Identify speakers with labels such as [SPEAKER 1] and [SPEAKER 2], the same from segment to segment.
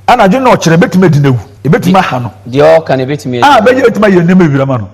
[SPEAKER 1] Anadwo na ɔkyerɛ ebetumi adi n'awu, ebetumi aha no. Deɛ ɔka no ebetumi
[SPEAKER 2] adi. A bɛyɛ ebetumi ayɛ nneɛma
[SPEAKER 1] ewira ma no.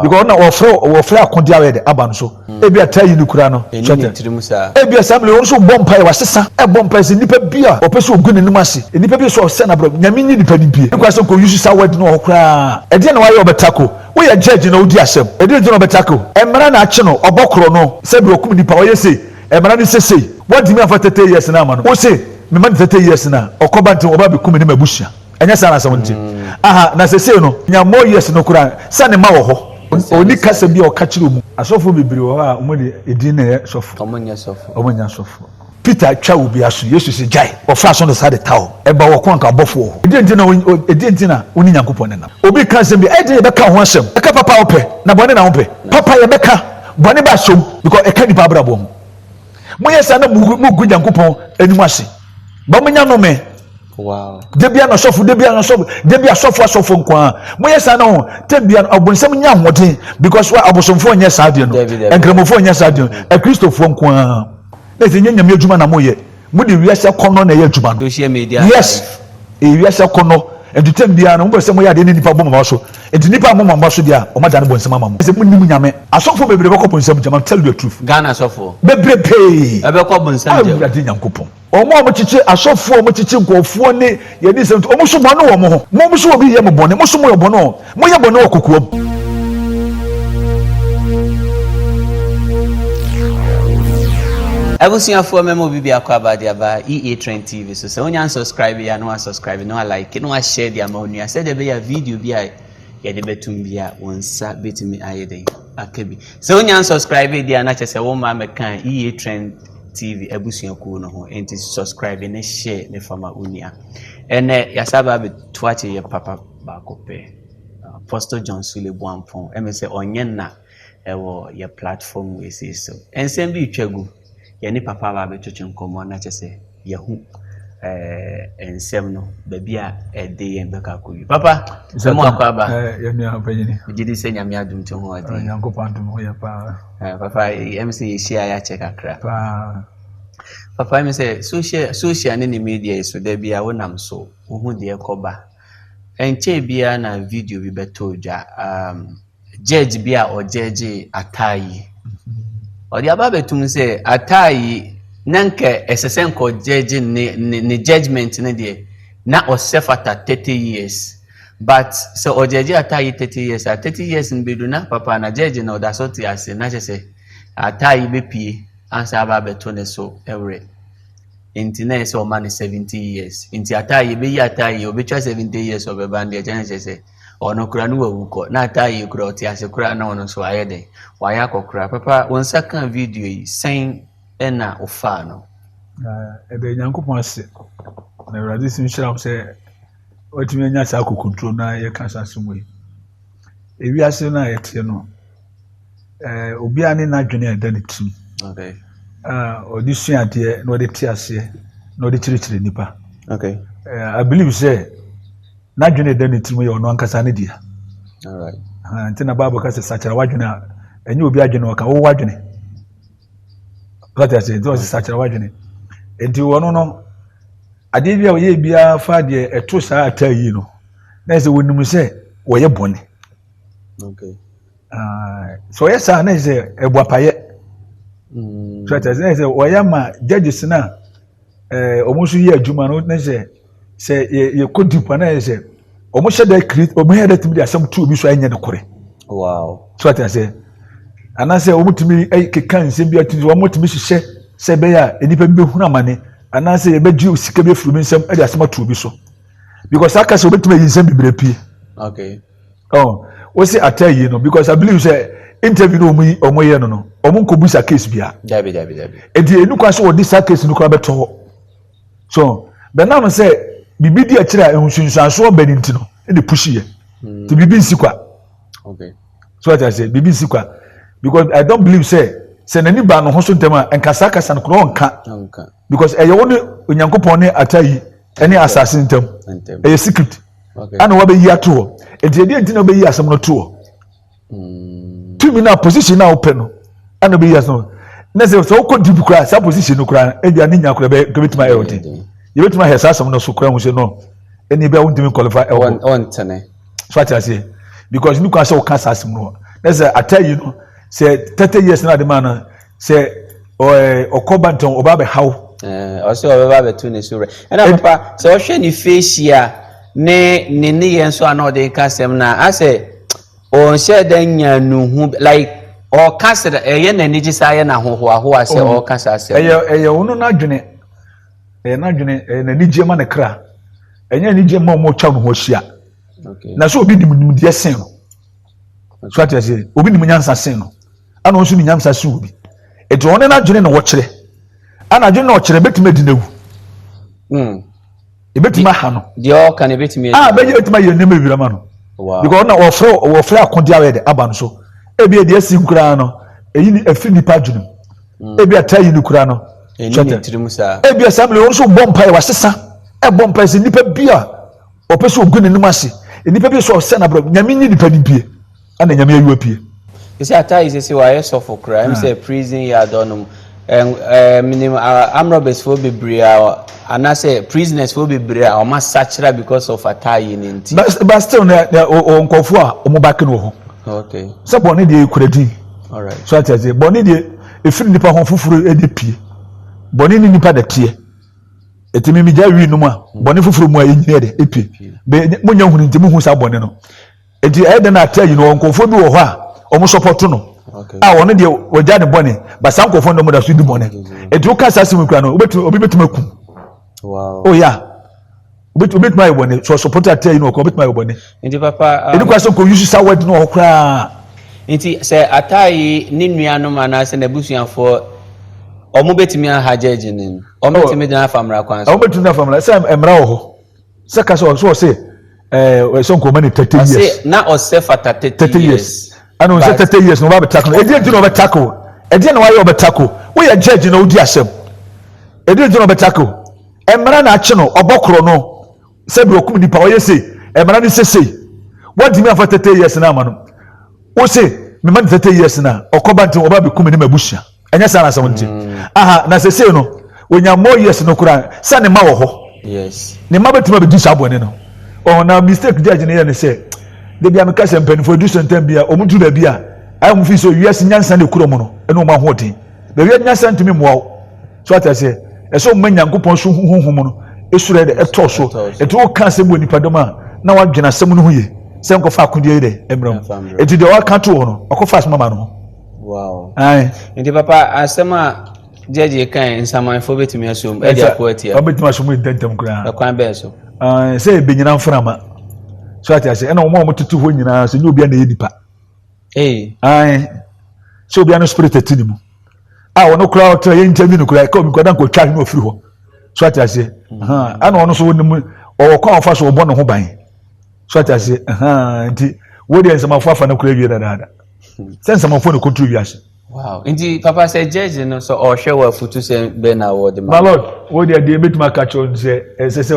[SPEAKER 1] Because ɔna ɔfrɛ ɔfrɛ akode a ɔyɛ de aba no so. Hmm. Ebi a taa yi no kura no. Ɛni ne tirim saa. Ebi a saa mmiri wɔn nso bɔ mpaeɛ wɔasesa ɛbɔ mpaeɛ sɛ nipa bi a ɔpɛ sɛ ogu n'anim ase. Nipa bi sɛ ɔsɛ na brɛ nyame nyi nipa ni bie. Ekura sɛ nkɔ yusu saa wɛdi no wɔ hɔ koraa. Ɛdeɛ na wayɛ ɔbɛtako. Woyɛ judge na wodi asɛm. Ɛdeɛ nti na ɔbɛtako. Mmara na akye no ɔbɔ korɔ no sɛ deɛ ɔkum nipa ɔyɛ sei. Ɛmana ne sesei wantumi amfa thirty years no amma no, wose mema no thirty years no a ɔkɔba nti wɔba abɛku me ne m'abusua, ɛnyɛ saa na asɛm no te? Aha, na sesei no nya more years no koraa sɛ ne mma wɔ hɔ. Ɔnni kasa biaa ɔka kyerɛ ɔmu. Asɔfoɔ bebree wɔ hɔ a ɔmu de edin na ɛyɛ sɔfoɔ. Ɔmu nyɛ sɔfoɔ. Ɔmu nyɛ sɔfoɔ. Peter twa obi aso, Yesu se gyae, ɔfra aso no saa de ta hɔ. Ɛba wɔ ko anka abɔfoɔ wɔ hɔ. Ɛdeɛn nti na wo, ɛdeɛn nti na wone Nyankopɔn nenam? Obi ka asɛm bi a, ɛyɛ den yɛbɛka ho asɛm. Ɛka papa a wopɛ, na bɔne na wopɛ. Papa yɛbɛka. Bɔne ba som because ɛka nipa abrabɔ ho. Monyɛ saa na mugu Nyankopɔn anim ase. Ba mo nya nome. Wow. Debia na sɔfo, debia na sɔfo, debia sɔfo asɔfo nkwaa. Monyɛ saa na ho. Tebia ɔbonsam nya ahoɔden because wa abosomfo nyɛ saa deɛ no. Nkramofo nyɛ saa deɛ no. Akristofo nkwaa. Na ɛsɛ nyɛ nyame adwuma na moyɛ. mo de wiase akɔnɔ na ɛyɛ adwuma no social media yes ɛyɛ wiase akɔnɔ ɛnti tɛm biara no mo pɛ sɛ mo yɛ adeɛ ne nipa bɔ mama so ɛnti nipa a mo mama so deɛ a wɔn adane bɔ nsɛm ama mo ɛsɛ mo nim nyame asɔfo bebree bɛkɔ bɔ nsɛm gyama tell you the truth Ghana asɔfo bebree
[SPEAKER 2] pee
[SPEAKER 1] ɛbɛkɔ bɔ nsɛm gyam
[SPEAKER 2] awurade nyankopɔn
[SPEAKER 1] wɔn a wɔkyekye asɔfoɔ a wɔkyekye nkurɔfoɔ ne yɛne nsɛm wɔn so bɔne wɔ mo ho mo so obi yɛ mo bɔne mo so mo yɛ bɔne o Moyɛ bɔne wɔ kokoam.
[SPEAKER 2] Abusuafoɔ mɛma obi biako aba de aba EA Trend TV so sɛ wonya nsubscribe yɛ a na wasubscribe na walike na washare de ama onua sɛdeɛ ɛbɛyɛ a video bi a yɛde bɛtum bi a wo nsa bɛtumi ayɛ dɛn aka bi sɛ wonya nsubscribe deɛ a na kyɛ sɛ wo mma mɛka EA Trend TV abusuakuo no ho enti subscribe ne share ne fama onua ɛnɛ yɛasa ba abɛto akyɛ yɛ papa Baako pɛ. Apostle John Sule Boampong, ɛmɛ sɛ ɔnyɛ nna ɛwɔ yɛ platform wei sei so. Nsɛm bi retwa gu, yɛ ne papa aba abɛtwetwe nkɔmmɔ na kyɛ sɛ yɛhu ɛɛ nsɛm no, baabi a ɛde yɛn bɛkɔ akɔ yi. Papa, sɛ mo akɔ aba. Yɛ nua abanyini.
[SPEAKER 1] Gye di sɛ nyame adom
[SPEAKER 2] to ho ɔden. Nyankopɔn adom ho yɛ
[SPEAKER 1] paa. Papa, ɛmɛ
[SPEAKER 2] sɛ yɛhyia yɛakyɛ kakra. Paa.
[SPEAKER 1] Papa, ɛmɛ sɛ
[SPEAKER 2] social ne ne media yi so, da bi a wonam so, wohu deɛ ɛkɔba. Ɛnkyɛe biara na video bi bɛtɔɔ dwa, um, judge bi a ɔgyɛgye Atai. Ɔde aba abɛtum sɛ Atai na nka ɛsɛ sɛ nka ɔgyɛgye ne, ne, ne judgment no deɛ, na ɔsɛ fata 30 years. But sɛ ɔgyɛgye Atai 30 years a, 30 years no bɛdu na papa na judge no ɔda so te ase, na kyɛ sɛ Atai bɛpie ansa aba abɛto ne so were. nti na ɛyɛ sɛ ɔma no seventy years nti ataa yɛ bɛyi ataa yɛ obɛtwa seventy years ɔbɛba no deɛ kyɛ ne kyɛ sɛ ɔno kora no wawu kɔ na ataa yɛ kora ɔte ase kora na ɔno nso ayɛ dɛn wayɛ akɔkora papa wo nsa ka video yi sɛn ɛna ɔfaa no ɛda
[SPEAKER 1] nyankopɔn ase na awurade si nhyira m sɛ watumi anya saa akokonturo no a yɛka saa asɛm yi ewiase no a yɛteɛ no ɛɛ obiara ne n'adwene a ɛda ne tirim
[SPEAKER 2] a ɔde
[SPEAKER 1] sua adeɛ na ɔde te aseɛ na ɔde kyerɛkyerɛ nnipa okay
[SPEAKER 2] uh, i believe sɛ
[SPEAKER 1] n'adwene a ɛda ne tirim yɛ ɔno ankasa ne deɛ
[SPEAKER 2] nti na bible ka sɛ
[SPEAKER 1] sakyera w'adwene a ɛnyɛ obi adwene ɔka wowɔ adwene wate aseɛ nti ɔsɛ sakyera w'adwene nti wɔno no adeɛ bi a ɔyɛ biara fa deɛ ɛto saa ataa yi no na ɛsɛ wɔnim sɛ wɔyɛ bɔne Okay. Uh, so ɔyɛ saa na ɛsɛ ɛbu apayɛ. Mm. So ɛsɛ ɛsɛ ɔyɛ ama judges na ɛɛ eh, wɔn nso yɛ adwuma no na ɛsɛ sɛ yɛ yɛ kɔ deep na ɛsɛ wɔn hyɛ dɛ create wɔn hyɛ dɛ tumi de asɛm tu obi so ɛnyɛ ne kore. Wow. So
[SPEAKER 2] ɛsɛ
[SPEAKER 1] anaasɛ wɔn tumi ɛyɛ keka nsɛm bi ati wɔn tumi hyehyɛ sɛ ɛbɛyɛ a nnipa bi bɛ hu amane anaasɛ yɛ bɛ gye sika bi efiri bi nsɛm ɛde asɛm atu obi so because aka sɛ wɔbɛtumi ayi nsɛm bebree pie. Okay.
[SPEAKER 2] Oh,
[SPEAKER 1] wose ataa yie no because I believe sɛ interview no wɔn yi wɔn yɛ no no wɔn nkɔ bu sa case bia. Dabi dabi dabi.
[SPEAKER 2] Eti enu
[SPEAKER 1] kwan sɛ wɔde saa case no kora bɛtɔ hɔ. So bɛnam sɛ biribi di akyire a nsunsuansoɔ bɛ ne nti no ɛna pushi yɛ. Mm. Ti biribi nsi kwa.
[SPEAKER 2] Okay. So what I say
[SPEAKER 1] biribi nsi kwa because I don't believe sɛ sɛ n'ani ba no ho so ntɛm a nkasa kasa no kora ɔnka. Because ɛyɛ wɔn ne Onyankopɔn ne ata yi ɛne asase ntɛm. Ɛyɛ secret. ɛna wabɛyi
[SPEAKER 2] ato hɔ
[SPEAKER 1] nti ɛdeɛ nti na wobɛyi asɛm no to hɔ hmm. tumi no a position no a wopɛ no ɛna wobɛyi asɛm no na sɛ sɛ wokɔ deep koraa saa position no koraa ebia ne nya koraa bɛbɛtumi ayɛ ɔden hmm. yɛbɛtumi ahɛ saa asɛm no so koraa hu sɛ no ɛni bɛ wontumi qualify ɛwɔ ɔntene
[SPEAKER 2] so ate aseɛ
[SPEAKER 1] because ne kwan sɛ woka saa asɛm no na sɛ atɛ yi no sɛ thirty years na ade maa no sɛ ɔɛ ɔkɔ ba ntɔn ɔba bɛ haw. ɛɛ ɔsɛ ɔbɛba
[SPEAKER 2] bɛto ne so rɛ ɛna papa sɛ ɔhwɛ ne feesi a ne ne ne yɛn nso a na ɔde ka sɛm na asɛ ɔnhyɛ dɛ nya nuhu like ɔka sɛ ɛyɛ na anigye saa yɛ na ahohoahoa sɛ ɔka saa sɛm. ɛyɛ ɛyɛ ɔno n'adwene
[SPEAKER 1] ɛyɛ n'adwene ɛyɛ n'anigye ma ne kra ɛnyɛ anigye ma ɔmo ɔtwa ne ho ahyia na sɛ
[SPEAKER 2] obi nim nimdeɛ
[SPEAKER 1] sen no so ate ase obi nim nyansa sen no. ɛna ɔnso ne nyamsa si obi eti ɔne n'adwene na ɔkyerɛ ɛna adwene na ɔkyerɛ betumi adi n'awu hmm. ebetumi aha no deɛ ɔka na ebetumi
[SPEAKER 2] adi a bɛyɛ betumi ayɛ nneɛma
[SPEAKER 1] ewira ma no because ɔna ɔfrɛ ɔfrɛ akɔde awɛ de aba no so ebi edi esi nkoraa no eyi ni efi nipa adwene mu hmm. ebi ata yi ni koraa no kyɛtɛ
[SPEAKER 2] ebi ɛsɛ mi ɔnso
[SPEAKER 1] bɔ mpa yɛ wasesa ɛbɔ mpa yɛ sɛ nipa bi a ɔpɛ sɛ ogu n'anim ase nipa bi sɛ ɔsɛ n'abrɛ nyame nyi nipa ni bie. Ana nyame ayi wo apue. Ɔsɛ ataa yi
[SPEAKER 2] sese wayɛ sɔfo koraa ɛm sɛ prison yɛ adɔ nom ɛɛ menim amrɔbɛs foɔ bebree a anasɛ prisoners foɔ bebree a wɔn asakyera because of ataa yi ne nti. But but still na na
[SPEAKER 1] ɔwɔ nkɔfoɔ a wɔn back no wɔ hɔ. Okay. Sɛ bɔnne
[SPEAKER 2] deɛ ekura
[SPEAKER 1] din. Alright. So ati
[SPEAKER 2] ase bɔnne deɛ
[SPEAKER 1] efiri nipa ho foforɔ ɛde pie bɔnne ne nipa dɛteɛ eti mi mi gya wi nom a bɔnne foforɔ mu a enyini ɛde epie bɛ mo nya huni nti mo hu saa bɔnne no. nti ɛyɛ dɛn na ataa yi no wɔ nkurɔfoɔ bi wɔ hɔ a wɔn sɔpɔto no a wɔn deɛ
[SPEAKER 2] wɔgya
[SPEAKER 1] ne bɔne basa nkurɔfoɔ no wɔn da so di bɔne nti woka saa asɛm kura no obetumi obi betumi akum
[SPEAKER 2] oya
[SPEAKER 1] oh, obetumi ayɛ bɔne sɔ sɔpɔto ataa yi no ɔkɔ obetumi ayɛ bɔne nti papa ɛdi kɔ
[SPEAKER 2] asɛ nkɔ yusu sa
[SPEAKER 1] wɛdi no wɔ koraa nti sɛ
[SPEAKER 2] ataa yi ne nuanom anaasɛ n'abusuafoɔ wɔn betumi aha gyɛgye ne wɔn betumi gyina afa mmara kwan so wɔn betumi gyina afa mmara sɛ mmara
[SPEAKER 1] wɔ hɔ sɛ kasa wɔ so wɔ se. ɛɛ ɛsɛ nkɔmɔ ne thirty years. ɔsɛ na ɔsɛ fata
[SPEAKER 2] thirty years. ɛna ɔsɛ thirty years
[SPEAKER 1] na ɔbɛ abɛ tako ɛdi ɛdi na ɔbɛ tako ɛdi na wayɛ ɔbɛ tako woyɛ judge na odi asɛm ɛdi ɛdi na ɔbɛ tako ɛmɛra na akyi no ɔbɔ korɔ no sɛbi ɔkum nipa ɔyɛ se ɛmɛra ne sese wɔdi mi afa thirty years na ama no wose mɛma ne thirty years na ɔkɔba nti ɔba abɛ kum ne ma ebusua. ɛnyɛ saa na asɛm no te mm. aha na sesei no onya more years no koraa sɛ ne ma wɔ hɔ ne ma
[SPEAKER 2] bɛtumi abɛdi saa
[SPEAKER 1] bɔne no ɔhɔ na mistake judge no yɛ ne sɛ da bia meka sɛ mpanimfoɔ adu sɛntɛm bi a ɔmo duru baabi a ayɛ mo fi sɛ wiase nyansa na ekura mu no ɛna ɔmo ahoɔden baabi a nyansa ntumi mmoa wo so ata sɛ ɛsɛ ɔmo ma nyankopɔn so huhuhu mu no esoro yɛ dɛ ɛtɔ so ɛti wo ka asɛm wɔ nipa dɔm a na wadwene asɛm no ho yie sɛ nkɔfa akodeɛ yi dɛ mmerɛ mu eti deɛ waka to hɔ no ɔkɔfa asoma ma no ho. Wow. Aye.
[SPEAKER 2] Nti
[SPEAKER 1] papa asɛm
[SPEAKER 2] a judge yi kan nsamanfoɔ bɛtumi asom ɛde ako atia. Ɔbɛtumi asom yi ntɛntɛm
[SPEAKER 1] koraa. Ɛkwan bɛn so? Uh,
[SPEAKER 2] sɛ ɛbɛnyina
[SPEAKER 1] mframa. So ate ase ɛna wɔn a wɔtete hɔ nyinaa sɛ nyɛ obi a na ɛyɛ nipa. Hey. Aye. Sɛ obi a no spirit ɛte ne mu. A wɔn koraa ɔtena yɛ nkyɛn bi no koraa ɛka omi kwadan kɔ twa ne ofiri hɔ. So ate ase. Ɛna wɔn nso wɔn mu ɔwɔ kwan ɔfa so ɔbɔ ne ho ban. so ate ase ɛhaa nti wo deɛ nsɛmafo afa no kora awie dadaada sɛ nsɛmafo ne kɔturu wiase wow nti papa
[SPEAKER 2] sɛ gyɛgye no sɛ ɔhwɛ wɔ afutu sɛ bɛ na wɔde ma malod wo deɛ deɛ
[SPEAKER 1] bɛtumi aka kyerɛ no sɛ ɛsɛ sɛ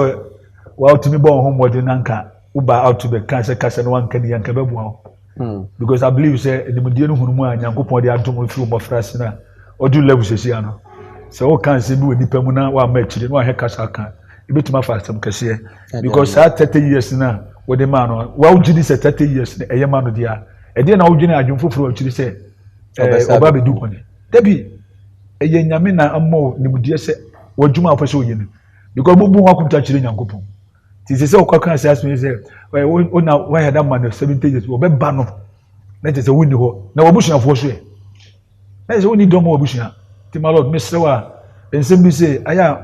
[SPEAKER 1] wɔatumi bɔ wo ho mmɔden na nka woba ato bɛka sɛ kasa no wanka ni anka bɛboa wo Hmm. Because I believe sɛ nimdeɛ no hunu mu a Nyankopɔn de adom mfiri mmɔfra ase na ɔdu level sɛsi ano. Sɛ woka nsɛm bi wɔ nipa mu na wama akyire na wahɛ kasa aka ebetumi afa asɛm kɛseɛ. Because saa thirty years na wɔde maa no wawogye di sɛ thirty years na ɛyɛ ma no deɛ a ɛdeɛ na wodwene adwene foforɔ akyiri sɛ ɔba bɛdi bɔne. Dabi ɛyɛ nyame na ama nimdeɛ sɛ wɔadwuma a wɔpɛ sɛ wɔyɛ no. Because mobu ho akonta kyerɛ Nyankopɔn. nti sɛ sɛ ɔkɔ kan saa so sɛ ɛ wo na wayɛ da ma no seventy years ɔbɛba no na kyerɛ sɛ wonni hɔ na wabusuafoɔ so ɛ na kyerɛ sɛ wonni dɔm wɔ abusua nti ma lord mesrɛ wo a nsɛm bi sɛ ayɛ a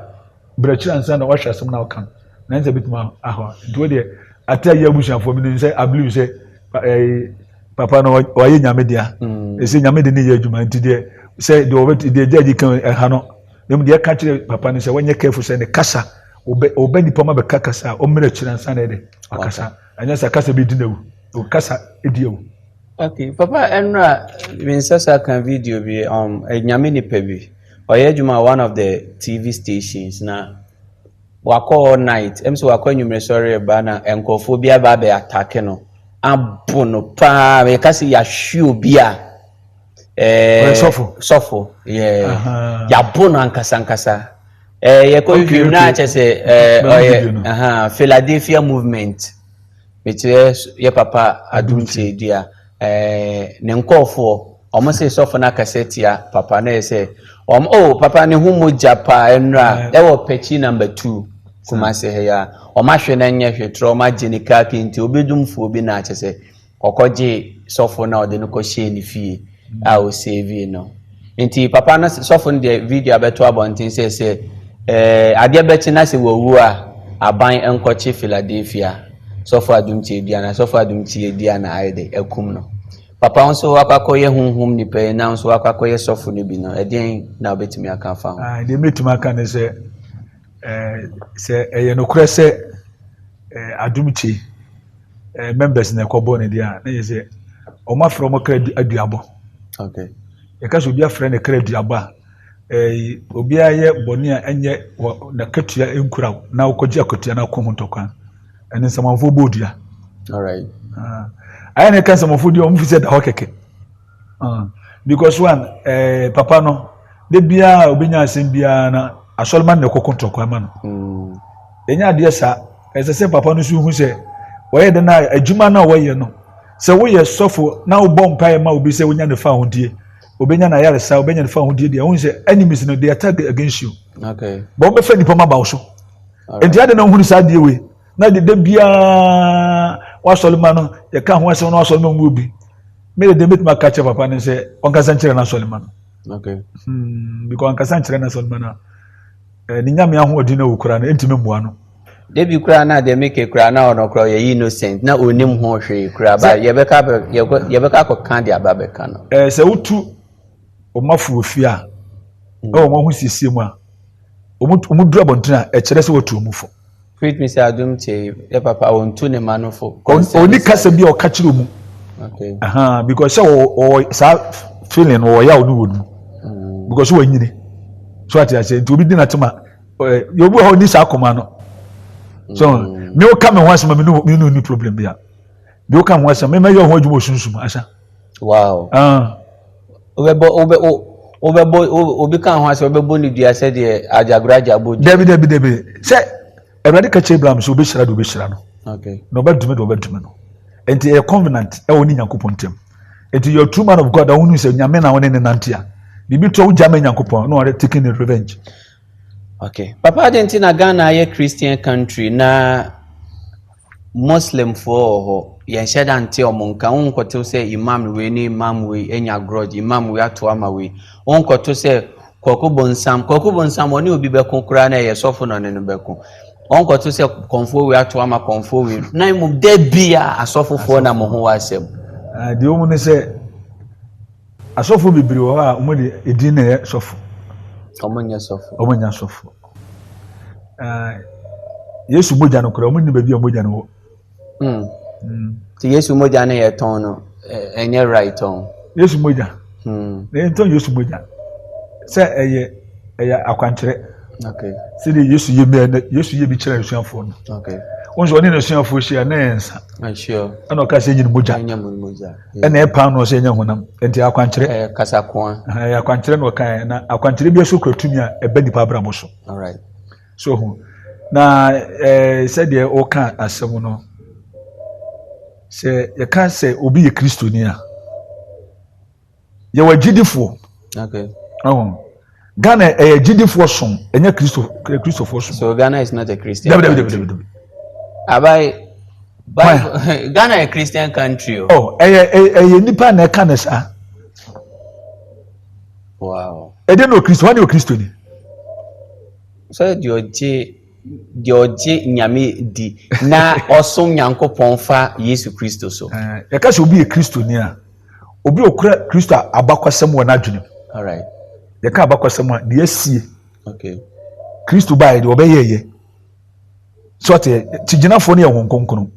[SPEAKER 1] brɛkyerɛ ansa na wahwɛ asɛm na ɔka no na ɛnsɛ bitumi ahɔ nti wo deɛ ate ayɛ abusuafoɔ menim sɛ i believe sɛ ɛɛ papa no ɔyɛ nyame dea mm. ɛsɛ nyame de ne yɛ adwuma nti deɛ sɛ deɛ ɔbɛ deɛ gyaagye kan ɛha no na mu deɛ ɛka kyerɛ papa no sɛ wɔnyɛ careful sɛ ne kasa Ɔbɛ ɔbɛ nipa ɔma bɛka kasa a ɔmmerɛ kyerɛ nsa na ɛdɛ wakasa anyɛ sa kasa bɛdi n'awu ɔkasa ɛdi awu. Okay papa
[SPEAKER 2] ɛnura minsa sa ka video bi um, nyame nipa bi ɔyɛ adwuma one of the TV stations na wakɔ all night ɛm sɛ wakɔ anwummerɛ sɔre ɛba na nkurɔfoɔ bi aba abɛ atake no abo no paa meka sɛ yɛahwe obi a ɛɛ sɔfo sɔfo yɛɛ yabɔ no ankasa ankasa ɛɛ yɛkɔ wie mu na akyɛ sɛ ɛɛ ɔyɛ ɛhɛn philadelphia movement mekyerɛ yɛ papa adumkye dua ɛɛ ne nkɔɔfoɔ wɔn sɛ sɔfo no akasa tia papa na yɛ sɛ wɔn o oh, papa ne ho mogya paa ɛnura ɛwɔ pɛkyi namba two kumase ha ya wɔn ahwɛ na nyɛ hwɛ torɔ wɔn agye ne kaa kente obedumfoɔ bi na akyɛ sɛ. Ɔkɔgyee sɔfo no a ɔde no kɔhyɛɛ ne fie a ɔsavee no. Nti papa no, sɔfo no de video abɛto abɔnten sɛ sɛ adeɛ bɛkye na sɛ wawu a, aban nkɔkye Philadelphia sɔfo adum tiadua na sɔfo adum tiadua na ayɛ dɛ akum no. Papa wo nso wakɔ akɔyɛ honhom nipa yi na nso wakɔ akɔyɛ sɔfo no bi no, ɛdeɛn na wobɛtumi aka afa ho? Deɛ mɛtumi aka ne sɛ,
[SPEAKER 1] sɛ ɛyɛ nokorɛ sɛ adum kye, eh, members na ɛkɔbɔ no deɛ a na yɛ sɛ wɔn afrɛ wɔn kra aduabɔ okay.
[SPEAKER 2] yɛka sɛ obi
[SPEAKER 1] afrɛ ne kra aduabɔ a eh, obiara yɛ bɔne a ɛnyɛ n'akatua nkura wo na wokɔgye akatua no akɔ ho ntɔkwa ɛne nsamanfoɔ bɔɔ dua
[SPEAKER 2] ayɛ
[SPEAKER 1] ne ka nsamanfoɔ dua wɔn fi sɛ da hɔ kɛkɛ Uh, because one, eh, papa no, de biara obenya asɛm biara na asɔrema na ɛkɔkɔ tɔkwa ama no. Mm. Ɛnyɛ adeɛ saa, ɛsɛ sɛ papa no so hu sɛ wɔyɛ dɛ na adwuma no a wɔyɛ no sɛ woyɛ sɔfo na wobɔ mpaeɛ ma obi sɛ wonya ne fa ahodie obɛnya no ayaresa obɛnya ne fa ahodie deɛ wohu sɛ enemies no they attack against you okay. bɛ wɔbɛfa
[SPEAKER 2] nnipa ma ba
[SPEAKER 1] wo so nti ade na wohunu saa adeɛ wei na de da biara wasɔre ma no yɛka ho asɛm na wasɔre ma mu obi mede deɛ mɛtumi aka kyerɛ papa no sɛ ɔnkasa nkyerɛ no asɔre ma no okay.
[SPEAKER 2] hmm, because
[SPEAKER 1] ɔnkasa nkyerɛ no asɔre ma no a ne nyame ahoɔden no wɔ koraa no ɛntumi mmoa no debi koraa na
[SPEAKER 2] deɛ meke koraa na ɔno koraa ɔyɛ innocent na ɔnim ho hwee koraa ba yɛbɛka yɛbɛka kɔka de aba bɛka no sɛ wotu
[SPEAKER 1] wɔn afo wɔ fie a mm. na wɔn ahosiesie mu a wɔn wɔn duru abɔnten a ɛkyerɛ sɛ wɔtu wɔn fo. faith mi sɛ adum
[SPEAKER 2] tie yɛ papa wɔn tu ne ma no fo. oni kasa bi a
[SPEAKER 1] ɔka kyerɛ mu. okay ahan
[SPEAKER 2] because sɛ
[SPEAKER 1] ɔwɔ saa feeling ɔwɔ yaw ne wɔn mu mm. because wɔn nyini so ati ase nti obi di na te ma ɛɛ yɛ obi wɔ hɔ oni saa akoma no so mm. mi o ka mi ho asɛm mi ni mi ni problem bi a mi o ka mi ho asɛm mi ma yɛ ɔho adwuma osunsum asa. Wow.
[SPEAKER 2] Ah. Wobɛbɔ wobɛ wobɛbɔ obi ka ho asɛ wobɛbɔ ne dua sɛ deɛ agyagoro agyabɔ dua. Dabi dabi dabi sɛ
[SPEAKER 1] awurade ka kyerɛ Abraham sɛ wobɛhyira de wobɛhyira no. Okay. Na ɔbɛdome de
[SPEAKER 2] ɔbɛdome
[SPEAKER 1] no. Nti ɛyɛ covenant ɛwɔ ne Nyankopɔn ntam. Nti you're true man of God a wonu sɛ nyame na wone ne nante a biribi to a wogya ma Nyankopɔn na ɔre taking revenge. Ok
[SPEAKER 2] papa adɛn nti na Ghana ayɛ Christian country na Muslim foɔ wɔ hɔ yɛnhyɛ da nte ɔmo nka wo nkɔto sɛ imam wei ne imam wei anya grudge imam wei ato ama wei wo nkɔto sɛ kwaku bonsam kwaku bonsam ɔne obi bɛko koraa na ɛyɛ sɔfo na ɔne no bɛko wɔn nkɔto sɛ kɔnfoɔ wei ato ama kɔnfoɔ wei na mmom da bi a asɔfofoɔ na mo ho wɔ asɛm. deɛ wɔn ne
[SPEAKER 1] sɛ Asɔfo bebree wɔ hɔ a wɔn de edin na ɛyɛ sɔfo. Wɔn nyɛ
[SPEAKER 2] sɔfo. Wɔn nyɛ sɔfo. Ɛɛ
[SPEAKER 1] Yesu mogya no koraa wɔn nni baabi a mogya no wɔ. Hmm. Hmm.
[SPEAKER 2] Ti Yesu mogya no yɛ tɔn no ɛnyɛ right tɔn. Yesu mogya.
[SPEAKER 1] Hmm. Na yɛn tɔn Yesu mogya sɛ ɛyɛ ɛyɛ akwankyerɛ. Okay. Sɛ
[SPEAKER 2] de Yesu yɛ
[SPEAKER 1] mɛ Yesu yɛ bi kyerɛ asuafoɔ no. Okay. Wɔn nso ɔne
[SPEAKER 2] n'asuafoɔ
[SPEAKER 1] hyia na yɛn nsa. Ɛna ɔka
[SPEAKER 2] sɛ nyini mogya.
[SPEAKER 1] Nyini mogya. ɛna ɛyɛ paanoo sɛ ɛnyɛ honam nti akwankyerɛ ɛyɛ kasakoa ɛyɛ
[SPEAKER 2] akwankyerɛ na ɔka
[SPEAKER 1] yɛ na akwankyerɛ bi nso kura tumi a ɛbɛ nipa abrabɔ so
[SPEAKER 2] so ho
[SPEAKER 1] na ɛɛ sɛdeɛ ɔka asɛm no sɛ yɛka sɛ obi yɛ kristoni a yɛwɔ agyidifoɔ
[SPEAKER 2] ɔho.
[SPEAKER 1] Ghana ɛyɛ gyidifoɔ som ɛnyɛ kristofoɔ som. So Ghana is not a Christian dabi, dabi, country.
[SPEAKER 2] Dabi, dabi, dabi. Abayi, Bible, Ghana yɛ Christian country o. Oh, ɛyɛ
[SPEAKER 1] ɛyɛ nipa na ɛka ne saa.
[SPEAKER 2] Wow. Ɛde na okristo, wɔn ni
[SPEAKER 1] okristo ni.
[SPEAKER 2] Sɛ deɛ ɔgye deɛ ɔgye nyame di na ɔsom nyankopɔn fa Yesu Kristo so. Eh, yɛka sɛ obi yɛ
[SPEAKER 1] kristo ni a. obi okura kristo abakɔsɛm wɔ n'adwenem alright
[SPEAKER 2] yɛka abakɔsɛm
[SPEAKER 1] a deɛ asie okay
[SPEAKER 2] kristo
[SPEAKER 1] baeɛ deɛ ɔbɛyɛɛyɛ so ɔte kyigyinafoɔ no yɛ wɔn nkonkono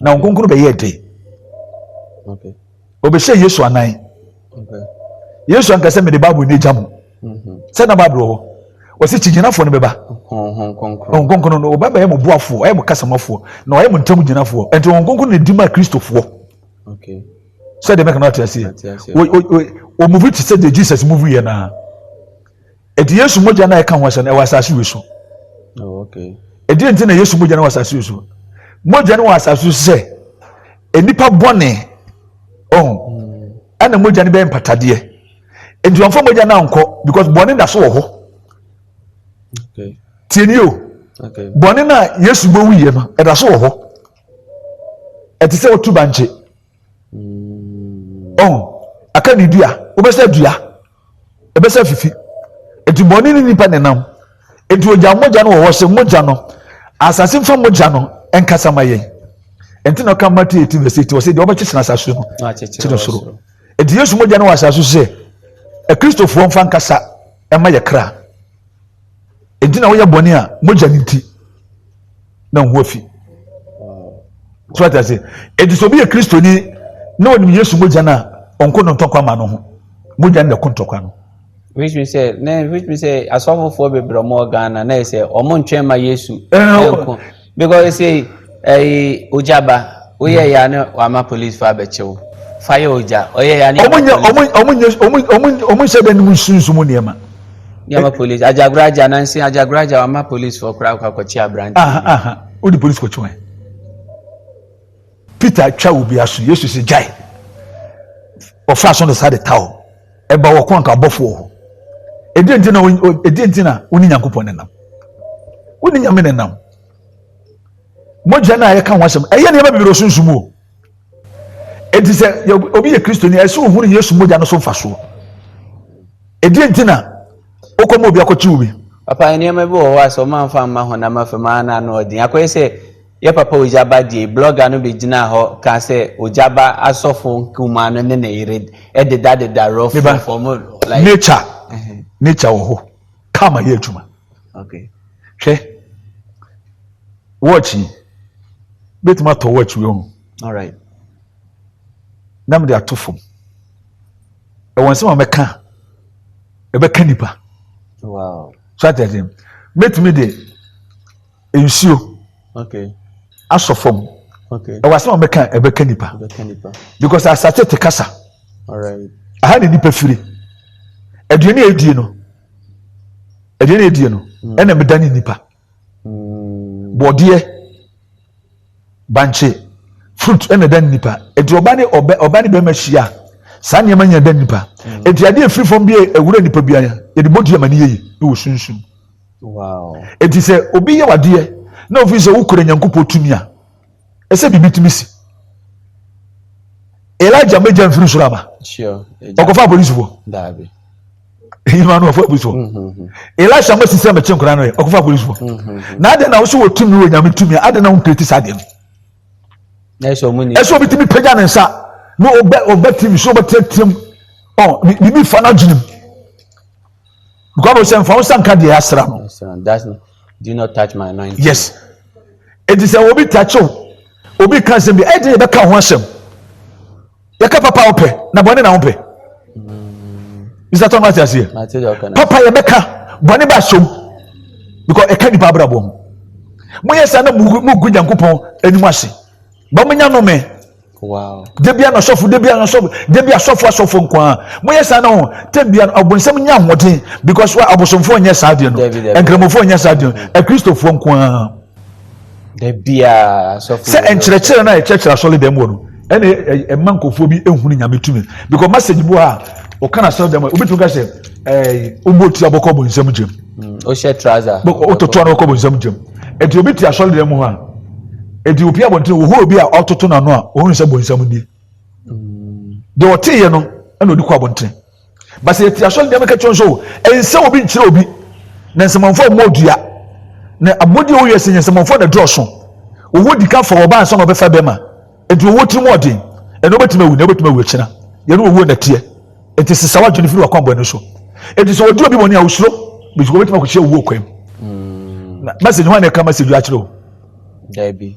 [SPEAKER 1] na wɔn nkonkono bɛyɛ dɛ
[SPEAKER 2] okay ɔbɛhyɛ
[SPEAKER 1] yesu anan okay
[SPEAKER 2] yesu ankasa
[SPEAKER 1] mede bible no agya mu mhm. sɛ na bible wɔ hɔ wɔsi kyigyinafoɔ no bɛba wɔn nkonkono no ɔbɛba yɛ mo boafoɔ ɔyɛ mo kasamofoɔ na ɔyɛ mo ntam gyinafoɔ ɛnti wɔn nkonkono na di ma kristofoɔ
[SPEAKER 2] sɛ deɛ mɛka
[SPEAKER 1] no ate aseɛ wɔmuvi te sɛ deɛ jesus muvi yɛ naa ɛti yesu mogya no a ɛka ho asɛ no ɛwɔ asase wei so oh,
[SPEAKER 2] ɛdeɛ nti na
[SPEAKER 1] yesu mogya no wɔ asase wei so mogya no wɔ asase so sɛ nnipa bɔne ɔn oh, hmm. ɛna mogya no bɛyɛ mpatadeɛ nti wɔn fɔ mogya no ankɔ because bɔne da so wɔ hɔ
[SPEAKER 2] tiɛni o
[SPEAKER 1] bɔne no
[SPEAKER 2] a yesu
[SPEAKER 1] bɛwuyɛ no ɛda so wɔ hɔ ɛte sɛ wotu bankye mm. ɔn aka ne dua wobɛsɛ dua ɛbɛsɛ fifi nti bɔne ne nipa nenam nti ogya mogya no wɔ hɔ sɛ mogya no asase mfa mogya no nkasa ma yɛn nti na ɔka mate eti verse eti ɔsɛ deɛ ɔbɛkyekyere asase no kyerɛ soro nti yesu mogya no wɔ asase so sɛ akristofoɔ mfa nkasa ɛma yɛ kra enti na woyɛ bɔne a mogya no nti na wo ho afi so ate ase enti sɛ obi yɛ kristoni na ɔnim yesu mogya no a ɔnko no ntɔkwa ma no ho mogya no na ɛko ntɔkwa no which means sɛ
[SPEAKER 2] na which means sɛ asɔfofoɔ bebree ɔmo wɔ ghana na yɛ sɛ ɔmo ntwɛn ma yesu ɛnko Because say ɛyi ogya ba woyɛ ya ne wama police fa abɛkyɛw fa yɛ ogya ɔyɛ ya ne ɔmo nyɛ ɔmo ɔmo nyɛ ɔmo ɔmo ɔmo nhyɛ dɛ ne mu
[SPEAKER 1] sunsun mu nneɛma. Nneɛma police
[SPEAKER 2] agyagoro agya nansi agyagoro agya wama police fɔ koraa kɔ akɔkye aberante. Aha aha o de police
[SPEAKER 1] kɔkye wɔn. Peter atwa obi aso Yesu sɛ gyae ɔfa so no saa de ta o. ɛba wɔ kɔn ka abɔfo wɔ hɔ ɛdeɛ nti na ɛdeɛ nti na wo ne nyankopɔn ne nam wo ne nyame ne nam mogya no a yɛka ho asɛm ɛyɛ nneɛma bebree ɔsunsum o ɛti sɛ obi yɛ kristoni ɛsɛ ohunu yesu mogya no so mfasoɔ ɛdeɛ nti na wokɔma obi akɔkye wo bi papa nneɛma bi wɔ
[SPEAKER 2] hɔ a sɛ ɔma mfa mma ho na mafam ana na ɔden akɔyɛ sɛ Yɛ papa Ogyaba die blɔga no bɛgyinaa hɔ kaa sɛ Ogyaba asɔfo nkumaa no ne ne yere dedadeda rɔfo fam like. Nature nature wɔ hɔ karma yɛ adwuma. Okay. Hwɛ
[SPEAKER 1] watch yi bɛtumi atɔ watch wei ho. Alright. Na mede ato fam. Ɛwɔ nsɛm a mɛka ɛbɛka nipa. Wow.
[SPEAKER 2] So atɛsɛm.
[SPEAKER 1] Mɛtumi de nsuo
[SPEAKER 2] asɔ fam
[SPEAKER 1] ɛwɔ
[SPEAKER 2] asɛm a mɛka ɛbɛka
[SPEAKER 1] nipa because asate te kasa
[SPEAKER 2] aha na nipa firi
[SPEAKER 1] aduane a edie no aduane a edie no mm. ɛna meda ne nipa mm. bɔdeɛ bankye fruit ɛna ɛda nipa eti ɔba ne ɔbɛ ɔba ne bɛrima hyia saa nneɛma nyɛ ɛda nipa mm. eti adeɛ efiri fam bi yɛ ewura nipa bi ayɛ yɛde bɔ dua ma ne yɛ yi ne wɔ sunsun
[SPEAKER 2] eti sɛ
[SPEAKER 1] obi yɛ wadeɛ na ofi sɛ wokura nyankopɔ tumi a ɛsɛ bibi tumi si elijah mbɛgya nfiri soro aba ɔkɔfa
[SPEAKER 2] apolisifoɔ. ɛnyima
[SPEAKER 1] no ɔfo apolisifoɔ mhm. elisha mɛsi sɛ mɛkye nkora no yɛ ɔkɔfa apolisifoɔ mhm. na adɛn na wosɛ wɔ tumi wɔ nyame tumi adɛn na wompireti saa deɛ no
[SPEAKER 2] ɛsɛ obi tumi pagya ne nsa
[SPEAKER 1] na ɔbɛ tv so ɔbɛteateam biribi fa no adwenem because ɔsɛ mfa wo nsa nka deɛ asra no
[SPEAKER 2] do not touch my anointing. yes
[SPEAKER 1] eti sɛ obi takyew obi ka nsɛm bi ɛdi yɛ bɛka ho asɛm yɛka papa a wopɛ na bɔne na wopɛ mr tom ate aseɛ papa yɛbɛka bɔne ba asom because ɛka nipa abrabɔ ho moyɛ saa na mogu nyankopɔn anim ase ba monya nome da
[SPEAKER 2] bia na sɔfo da
[SPEAKER 1] bia na sɔfo da bia sɔfo asɔfo nko a moyɛ saa na ho tam bia ɔbonsɛm nya ahoɔden because wa abosomfoɔ nyɛ saa deɛ no nkramofo nyɛ saa deɛ no akristofoɔ nko a Da
[SPEAKER 2] biara asɔfo. Sɛ nkyerɛkyerɛ no a
[SPEAKER 1] yɛkyerɛkyerɛ asɔredan mu wɔ no ɛna ɛma nkurɔfoɔ bi ehunu nyame tumi because message bu a ɔka na asɔredan mu a obetumi ka sɛ ɛɛ ɔbɔ otu abɔkɔ bɔ nsam gyam. ɔhyɛ
[SPEAKER 2] trouser. ɔtoto ano ɔkɔ bɔ
[SPEAKER 1] nsam gyam ɛti obi te asɔredan mu hɔ a ɛti opi abɔnten wɔhɔ obi a ɔtoto n'ano a wɔn nsɛ bɔ nsam nie deɛ ɔte yɛ no ɛna ɔde kɔ abɔnten. Ba sɛ yɛte asɔre nneɛma ka kyerɛ nso, ɛnsɛ sɛ obi nkyerɛ obi. Na nsɛmɔnfo mmɔ dua. Na abɔde a ɛwɔ wiase nyɛ nsɛmɔnfo na ɛdɔɔso. Owó di kan fa ɔbaa ansa na ɔbɛfa bɛrima. Enti owó tiri mu ɔden. Ɛnɛ wobɛtumi awu, na wobɛtumi awu akyina. Yɛne owuo na ɛteɛ. Enti sesa w'adwene firi w'akwammɔne so. Enti sɛ wɔdi obi bɔne a, osuro, because wɔbɛtumi akɔkyia owuo kwan mu. Mm. Na message hwan na ɛka message akyerɛ o? Dabi.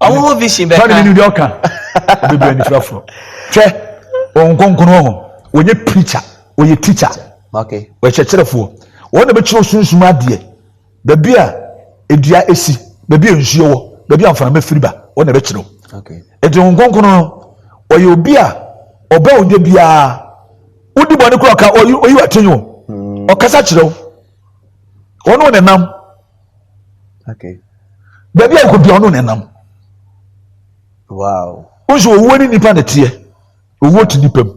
[SPEAKER 2] ɔmo bi si bɛka tɔni mi ni deɛ ɔka
[SPEAKER 1] bebree anifira forɔ hwɛ wɔn nkonkono wɔn wɔnyɛ pirikya wɔyɛ tikya wɔyɛ
[SPEAKER 2] kyerɛfoɔ
[SPEAKER 1] wɔn na bɛkyerɛ osunsun adeɛ baabi a edua esi baabi a nsuo wɔ baabi a nframa firi ba wɔn na bɛkyerɛ eti wɔn
[SPEAKER 2] nkonkono no
[SPEAKER 1] ɔyɛ obi a ɔbɛ ode biara wodi bɔ ne kura ɔka oyi wa tenyo ɔkasa kyerɛw wɔn na nam.
[SPEAKER 2] okay
[SPEAKER 1] baabi a nkɔbia ɔno nenam wow
[SPEAKER 2] nso owuo ne nipa na
[SPEAKER 1] teɛ owuo te nipa mu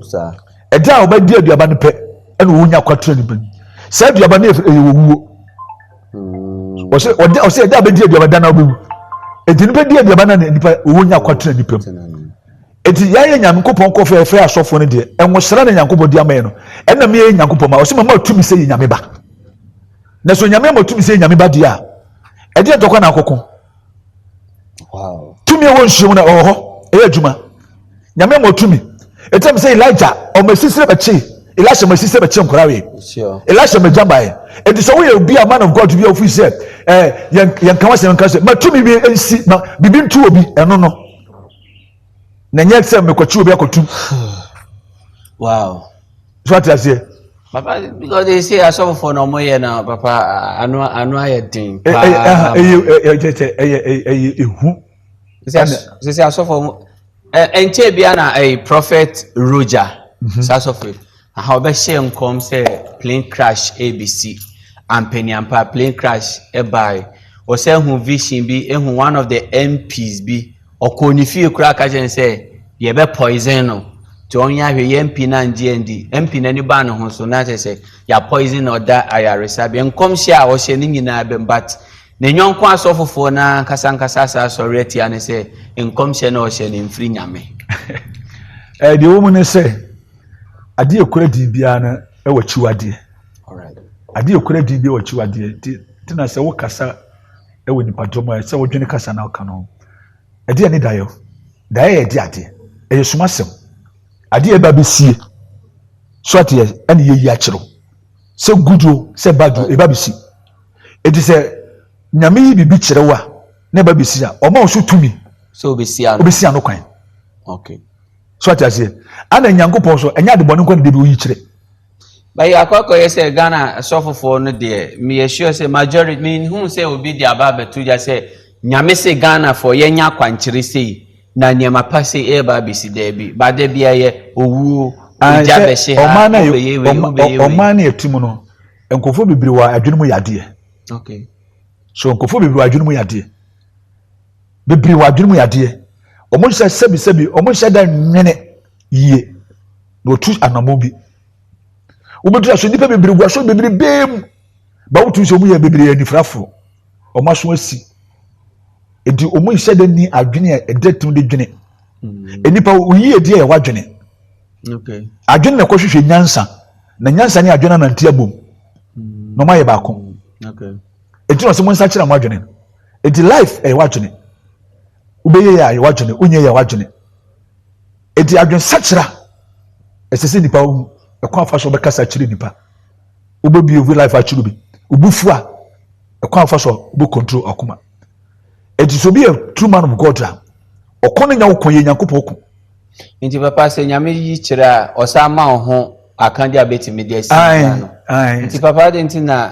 [SPEAKER 1] ɛda
[SPEAKER 2] a ɔbɛdi
[SPEAKER 1] aduaba no pɛ ɛna owuo nya kwatura nipa mu saa aduaba no ɛyɛ owuo hmm. ɔsɛ ɔda ɔsɛ ɛda a bɛdi aduaba da na ɔbɛwu eti nipa di aduaba na nipa owuo nya kwatura nipa mu eti yɛayɛ nyankopɔn kɔ fɛɛfɛ asɔfo no deɛ ɛnwosra na nyankopɔn di ama yɛ no ɛna mi yɛ nyankopɔn ma ɔsɛ mama tumi sɛ yɛ nyame ba. Na so nyame ama tumi sɛ nyame ba deɛ a ɛdeɛ dɔkɔ na akɔko
[SPEAKER 2] tumi ɛwɔ nsuo
[SPEAKER 1] mu na ɔwɔ hɔ ɛyɛ adwuma nyame ama tumi ɛtam sɛ elija ɔma asisire bɛkye elisha ma asisire bɛkye nkora wei elisha ma
[SPEAKER 2] gya baeɛ
[SPEAKER 1] ɛnti sɛ woyɛ obi a man of god bi a wofiri sɛ yɛnka wɔ sɛ yɛnka sɛ ma tumi bi nsi ma biribi ntu obi ɛno no na nyɛ sɛ mekɔkye obi akɔtum
[SPEAKER 2] wow so
[SPEAKER 1] ate aseɛ papa because
[SPEAKER 2] they say asɔfofoɔ na ɔmo yɛ na papa ano ano ayɛ den paa ɛyɛ ɛyɛ ɛyɛ ɛyɛ
[SPEAKER 1] ehu
[SPEAKER 2] sisi asɔfoɔ ɛnkyɛ bia na ɛyɛ prophet roger mhm. sasɔfoɔ aha ɔbɛhyɛ nkɔm sɛ plane crash abc ampanyampa plane crash ɛbaae ɔsɛ ehu vision bi ehu one of the mps bi. Ɔkɔɔ ne fie koraa ka kyerɛɛ no sɛ yɛbɛpoison no nti ɔnyɛ ahwɛ yɛ MP no angye andi. MP no ani baa ne ho so na kyerɛ sɛ yɛapoison no ɔda ayaresabea. Nkɔmhyɛ a ɔhyɛ no nyinaa bam but ne yɔnko asɔfofoɔ no ankasa ankasa asan asɔre atia no sɛ nkɔmhyɛ no a ɔhyɛ no ɛmfiri Nyame.
[SPEAKER 1] Ɛɛ deɛ ɛwɔ mu ne sɛ adeɛ a ɛkura din biara no ɛwɔ akyiwadeɛ.
[SPEAKER 2] Adeɛ a ɛkura din
[SPEAKER 1] biara wɔ akyiwadeɛ nti na sɛ wokasa wɔ nnipadɔm mu a ɛsɛ sɛ wodwene kasa na ɔka no ho. Ɛdeɛ ne daeɛ o. Daeɛ yɛ ɛde adeɛ. Ɛyɛ sum asɛm. Adeɛ ɛba bɛsie. So ateɛ ɛne yɛyi akyerɛw. Sɛ good o, sɛ bad o, ɛba bɛsi. Ɛti sɛ nyame yi biribi kyerɛw a na ɛba bɛsi a, ɔma wo so tumi. Sɛ
[SPEAKER 2] obɛsi ano kwan.
[SPEAKER 1] Okay.
[SPEAKER 2] So ate aseɛ.
[SPEAKER 1] Ana nyankopɔn so, ɛnyɛ adebɔne nkwa ne de bi woyi kyerɛ. But yɛ
[SPEAKER 2] akɔ akɔyɛ sɛ Ghana asɔfofoɔ no deɛ me yɛ sure sɛ majority me nhuu sɛ obi de aba abɛto gya sɛ Nyame se Ghanafoɔ yɛ nya akwankyere sei na nneɛma pa sei ɛɛba abɛsi daabi but da bi ɛyɛ owuo egya bɛhye ha wobɛyɛ wei wobɛyɛ wei. Ɔman
[SPEAKER 1] no yɛ ti mu no nkurɔfoɔ bebree wɔ adwene mu yadeɛ. Okay.
[SPEAKER 2] So nkurɔfoɔ
[SPEAKER 1] bebree wɔ adwene mu yadeɛ bebree wɔ adwene mu yadeɛ wɔn nhyɛ sɛbi sɛbi wɔn nhyɛ da nwene. yie na ɔtu anammɔn bi wobɛtu aso nnipa bebree gu aso bebrebee mu ba wotu sɛ ɔmu yɛ bebree anifirafoɔ ɔmo aso asi nti ɔmu nhyɛ da ni adwene a ɛda tim de dwene mm. nnipa woyi ɛdeɛ yɛ wadwene
[SPEAKER 2] adwene na ɛkɔhwehwɛ
[SPEAKER 1] nyansa na nyansa ne adwene anante abom mm. na ɔmo ayɛ baako
[SPEAKER 2] ɛti na ɔsɛ mo
[SPEAKER 1] nsa kyerɛ mo adwene ɛti life ɛyɛ wadwene wobɛyɛ yɛ a yɛ wadwene wonyɛ yɛ wadwene Eti adwensakyera ɛsɛ sɛ nipa hu ɛkwan afa so ɔbɛkasa akyerɛ nipa wobɛbie obi life akyerɛ bi wobufu a ɛkwan afa so wobɛ control akoma eti sɛ obi yɛ true man of God a ɔko no nya wo ko yɛ nyankopɔn ko nti papa
[SPEAKER 2] sɛ nyame yi kyerɛ a ɔsan ma wo ho akande a bɛtumi de asi no nti papa de nti na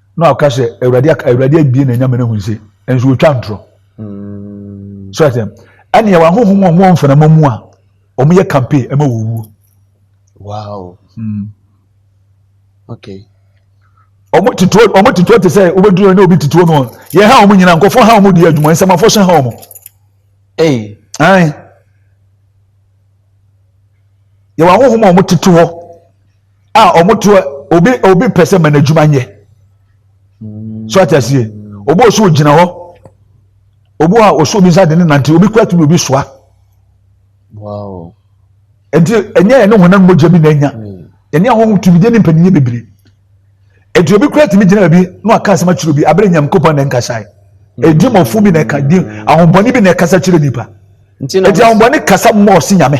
[SPEAKER 1] na waka sɛ awurade awurade abie na nyame no hu nse nso wɔtwa ntorɔ mm. so ɛtɛm ɛne ɛwɔ ahohom a wɔn mfanama mu a wɔn yɛ campaign ɛma wɔwuo wow
[SPEAKER 2] mm. okay wɔn
[SPEAKER 1] tituo wɔn tituo te sɛ wɔbɛduru ne obi tituo no yɛ ha wɔn nyinaa nkɔfo ha wɔn di adwuma nsɛmafo hyɛ ha wɔn ɛyi ɛn yɛ wɔn ahohom a wɔn tete hɔ. a ɔmo to obi obi pɛ sɛ ma n'adwuma nyɛ mm. so ate aseɛ obi wɔ so ogyina hɔ obi wɔ a ɔso obi nsa de ne nante obi kura tumi obi soa nti ɛnyɛ yɛn ne wɔn nan mogya bi na anya mm. yɛne ahohom tumi gye ne mpanyin bebree nti obi kura tumi gyina bi na waka asɛm akyerɛ obi abere nyam kopɔn na nkasa yi mm. edi mɔfo bi na ɛka di ahombɔni bi na ɛkasa kyerɛ nipa nti ahombɔni kasa mmɔɔ si nyame.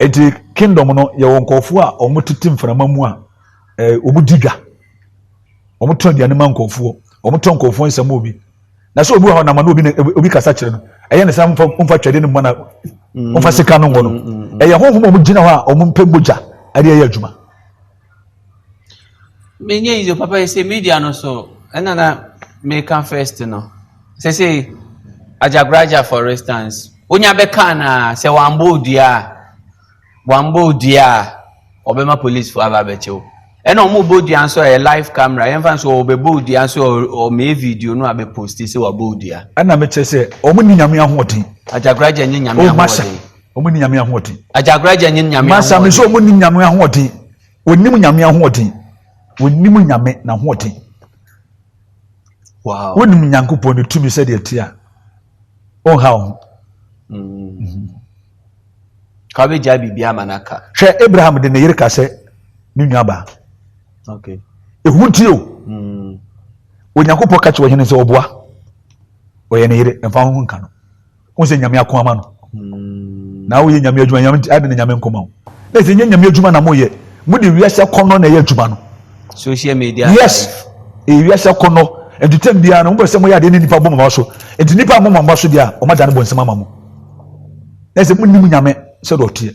[SPEAKER 1] Eti kingdom no yɛwɔ nkurɔfoɔ a wɔn tete mframa mu a ɛɛ wɔn di dwa. Wɔn tɔ aduane ma nkurɔfoɔ. Wɔn tɔ nkurɔfoɔ nsɛm obi. Na sɛ obi wɔ hɔ nam na obi na obi kasa kyerɛ no. Ɛyɛ ne sɛ nfa nfa twɛde no mu na nfa sika no ngɔ no. Ɛyɛ honhom a wɔn gyina hɔ a wɔn mpɛ mogya ɛde ɛyɛ adwuma.
[SPEAKER 2] Menyɛ yize papa yi sɛ media no so ɛna na meka first no sɛ sɛ agyagoraja for instance wonya bɛka na sɛ wambɔ odua a wambɔ odua a ɔbɛma police fo aba abɛkyɛw ɛna ɔmo bɔ odua nso a ɛyɛ live camera yɛmfa nso ɔbɛbɔ odua nso ɔmɛyɛ video no a bɛposti sɛ wabɔ odua ɛna mekyɛ sɛ
[SPEAKER 1] ɔmo ne nyame ahoɔden agyagoraja nyɛ nyame
[SPEAKER 2] ahoɔden Wɔn ni nyame
[SPEAKER 1] ahoɔden. Ajagraja nye nyame ahoɔden.
[SPEAKER 2] Masami nso wɔn ni nyame
[SPEAKER 1] ahoɔden. Wɔnim nyame ahoɔden. Wɔnim nyame n'ahoɔden.
[SPEAKER 2] Wow. Wɔnim nyankopɔn ne tumi
[SPEAKER 1] sɛdeɛ ɛte a ɔnha wo ho. Mm.
[SPEAKER 2] Ka wobɛgyae biribiara ma no aka. Hwɛ Abraham de ne
[SPEAKER 1] yere ka sɛ ne nuabaa.
[SPEAKER 2] Okay. Ehu nti o.
[SPEAKER 1] Mm. Onyankopɔn ka kyerɛ ɔhene sɛ ɔboa. Ɔyɛ ne yere, mfa ho nka no. wọn sɛ nyame ako ama no hmm. na woyɛ nyame adwuma nyame ade na nyame nkɔma wo na ɛsɛ nyɛ nyame adwuma na moyɛ mode wiase akɔnnɔ na ɛyɛ adwuma no social media
[SPEAKER 2] yes ɛyɛ
[SPEAKER 1] wiase akɔnnɔ ɛdutɛm biara no mopɛ sɛ moyɛ adeɛ ne nnipa bɔ mama so nti nnipa mmɔ mama so deɛ a ɔma da ne bɔ nsɛm ama mo na ɛsɛ monim nyame sɛdeɛ ɔteɛ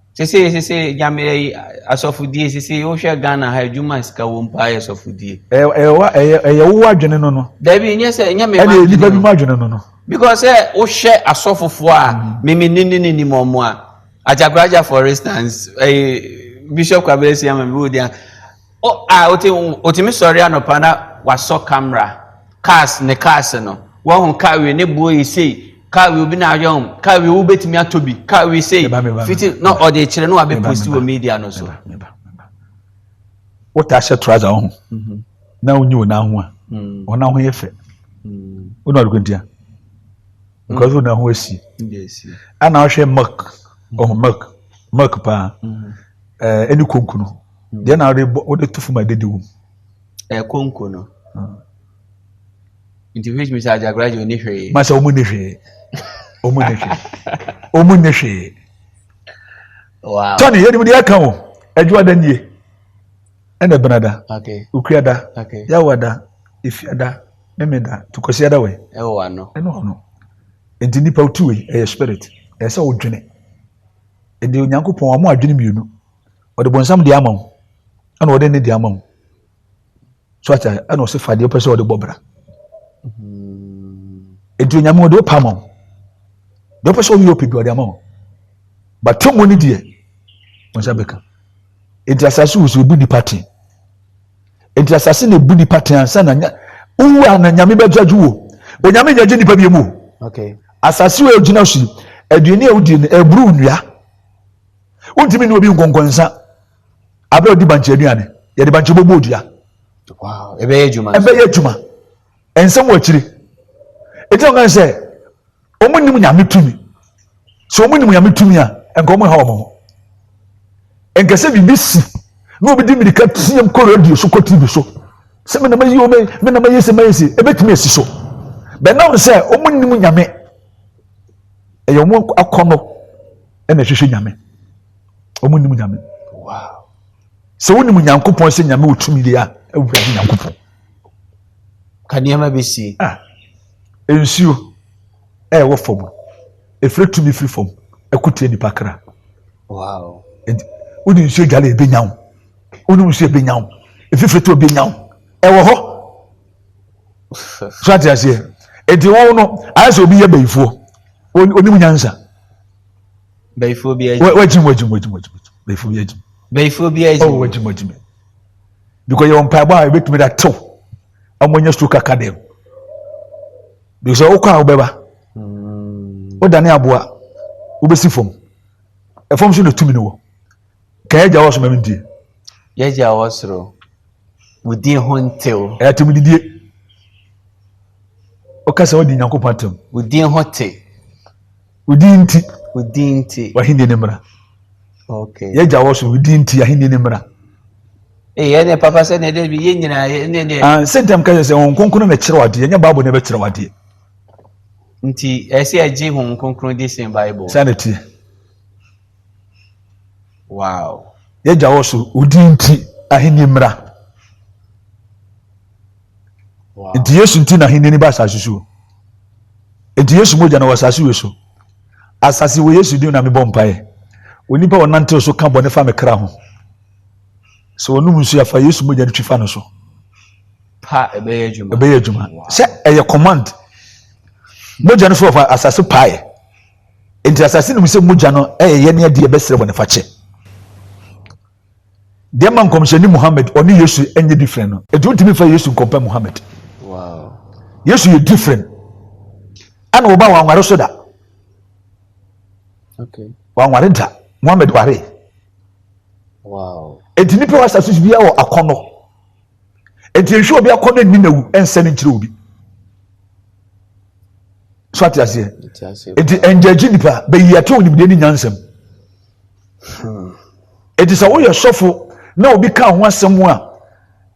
[SPEAKER 1] Sesei
[SPEAKER 2] sesei nyame ɛyi asɔfodie sesei wohwɛ Ghana ha adwuma a sika wɔ mu paa yɛ sɔfodie. Ɛyɛ ɛyɛ wa ɛyɛ ɛyɛ
[SPEAKER 1] wo adwene no no. Dabi nyɛ sɛ nyɛ me
[SPEAKER 2] ma adwene no. Ɛna nipa bi ma adwene no
[SPEAKER 1] no. Because sɛ
[SPEAKER 2] wohwɛ asɔfofoɔ a mimi mm. ne ne ne nim ɔmo a Ajakoraja for instance ɛyɛ Bishop Kwabena Siama bi wɔ di a. O a ɔte ɔtumi sɔre anɔpa na wasɔ camera cars ne cars no wɔn car wei ne boɔ yi sei car wei obi na ayɛ wɔn car wei wobɛtumi atɔ bi car wei sei fiti na ɔde kyerɛ na wabɛ post wɔ media no so. wota
[SPEAKER 1] ahyɛ trouser ɔho mhm. na wonyi wɔn aho a mm. wɔn aho yɛ fɛ wɔn ɔdoko ntia because wɔn aho esi ɛna
[SPEAKER 2] ɔhwɛ milk
[SPEAKER 1] ɔho milk milk paa ɛne konkono. Deɛ na wode bɔ wode to fam a ɛdede wom. Ɛyɛ konko
[SPEAKER 2] no. Hmm. Nti which means ajakora yɛ oni hwee. Ma sɛ wɔn ni hwee.
[SPEAKER 1] Wɔn ni hwee. Wɔn ni hwee.
[SPEAKER 2] Wow. Tɔni yɛ nimu de yɛ
[SPEAKER 1] kan o. Adwuma da nie. Ɛna ɛbɛn da. Okay. Okua da.
[SPEAKER 2] Okay.
[SPEAKER 1] Yawa da. Efia da. Meme da. Tukɔsia da wɛ. Ɛwɔ wa no. Ɛna ɔno. Nti nipa otu wei ɛyɛ spirit. Ɛyɛ sɛ odwene. Ɛdi onyankopɔn wɔn adwene mmienu. ɔde bonsam de ama wo ɛna ɔde ne de ama wo so ata ɛna ɔsi fa deɛ ɔpɛ sɛ ɔde bɔ bra hmm. nti onyame ɔde ɔpa ama wo deɛ ɔpɛ sɛ ɔyɛ ɔpɛ bi ɔde ama wo bata mu ne deɛ wɔn nsa bɛka nti asase wɔ so ebu nipa ten nti asase na ebu nipa ten ansa na nya owu a na nyame bɛgya ju wo onyame nya gye nipa bi mu asase
[SPEAKER 2] wɔ egyina
[SPEAKER 1] so aduane a wodi no eburu nnua. wontumi ne obi nkɔnkɔnsa abere a ɔdi bankye aduane yɛde bankye bɔbɔ odua
[SPEAKER 2] ɛbɛyɛ adwuma ɛbɛyɛ adwuma nsɛm wɔ
[SPEAKER 1] akyire ɛti ɔkan sɛ wɔn nim nyame tumi sɛ wɔn nim nyame tumi a nka wɔn ha wɔn ho nkɛsɛ biribi si na obi di mirika tiam kɔ radio so kɔ tv so sɛ mena mayi o mena mayi sɛ mayi sɛ ɛbɛtumi asi so bɛnam sɛ wɔn nim nyame ɛyɛ wɔn akɔnɔ ɛna ɛhwehwɛ nyame
[SPEAKER 2] wɔn nim
[SPEAKER 1] nyame sɛ wonim nyankopɔn sɛ nyame wɔ tumi deɛ a awurade nyankopɔn
[SPEAKER 2] ka nneɛma bɛsie ah, nsuo
[SPEAKER 1] ɛwɔ fam ɛfiri tumi firi fam ɛkotie nipa kra
[SPEAKER 2] wode
[SPEAKER 1] nsuo dwale ɛbɛnya wo wonom nsuo ɛbɛnya wo ɛfifiri to ɛbɛnya wo ɛwɔ hɔ so ate aseɛ nti wo no ayɛ sɛ obi yɛ bayifoɔ onim nyansa
[SPEAKER 2] bayifoɔ bi agyim wagyim wagyim wagyim
[SPEAKER 1] wagyim bayifoɔ bi agyim bayifoɔ bi agyim ɔwɔ wagyim wagyim because yɛ wɔn mpaebɔ a ebetumi da tew wɔn anya stroke aka dɛm because ɔkɔ a ɔbɛba ɔdane hmm. aboa ɔbɛsi fam ɛfam so na tumi no wɔ kɛyɛ gya wɔ so ma mi die yɛ gya wɔ
[SPEAKER 2] soro. wo din ho ntew. Ɛyɛ atemudidie.
[SPEAKER 1] Woka sɛ wodi Nyankopɔn atem. Wo din ho te.
[SPEAKER 2] Wo
[SPEAKER 1] din nti. Wo din nti. W'ahenni no mmra. Okay.
[SPEAKER 2] Yɛgya wɔ so wo
[SPEAKER 1] din nti ahenni no mmra. Ee ɛne
[SPEAKER 2] papa sɛ ne dɛ bi yɛ nyinaa ɛne deɛ. Ah sɛ ntɛm ka sɛ wɔn
[SPEAKER 1] nkonkron na ɛkyerɛ wadeɛ nyɛ baabu na ɛbɛkyerɛ wadeɛ.
[SPEAKER 2] Nti ɛsɛ ɛgye wɔn nkonkron di sen baabu. Sɛ na tie. Wow. Yɛgya wɔ so,
[SPEAKER 1] wo din nti ahenni mmra. Wow. Nti Yesu nti na ahenni ni ba asase so. Nti Yesu mogya na wɔ asase wɔ so. Asase wɔ Yesu din na mebɔ mpaeɛ. Onipa ɔnantew so ka bɔne fa me kra ho. Sɛ wɔnom nsu afa Yesu mogya no twi fa no so. Pa
[SPEAKER 2] ɛbɛyɛ adwuma. Ɛbɛyɛ adwuma. Sɛ ɛyɛ
[SPEAKER 1] command. Mogya no so wɔ asase paeɛ. Enti asase nim sɛ mogya no yɛ yɛn adeɛ yɛbɛsrɛ bɔne fakyɛ. Deɛ ma nkɔmhyɛni Muhammad ɔne Yesu nyɛ different no, enti wontumi mfa Yesu nkɔmpɛ Muhammad.
[SPEAKER 2] Yesu yɛ
[SPEAKER 1] different. Ɛna wɔba wanware so da.
[SPEAKER 2] Wanware da.
[SPEAKER 1] Muhammad ware.
[SPEAKER 2] Enti nipa wɔ
[SPEAKER 1] asase so biara wɔ akɔnɔ. nti nhwɛ obi akɔ ne nina wu ɛnsɛ ne nkyerɛ obi so ate aseɛ nti ɛngyagye nipa bɛyi ɛte onimdeɛ ne nyansɛm nti sɛ woyɛ sɔfo na obi ka ho asɛm a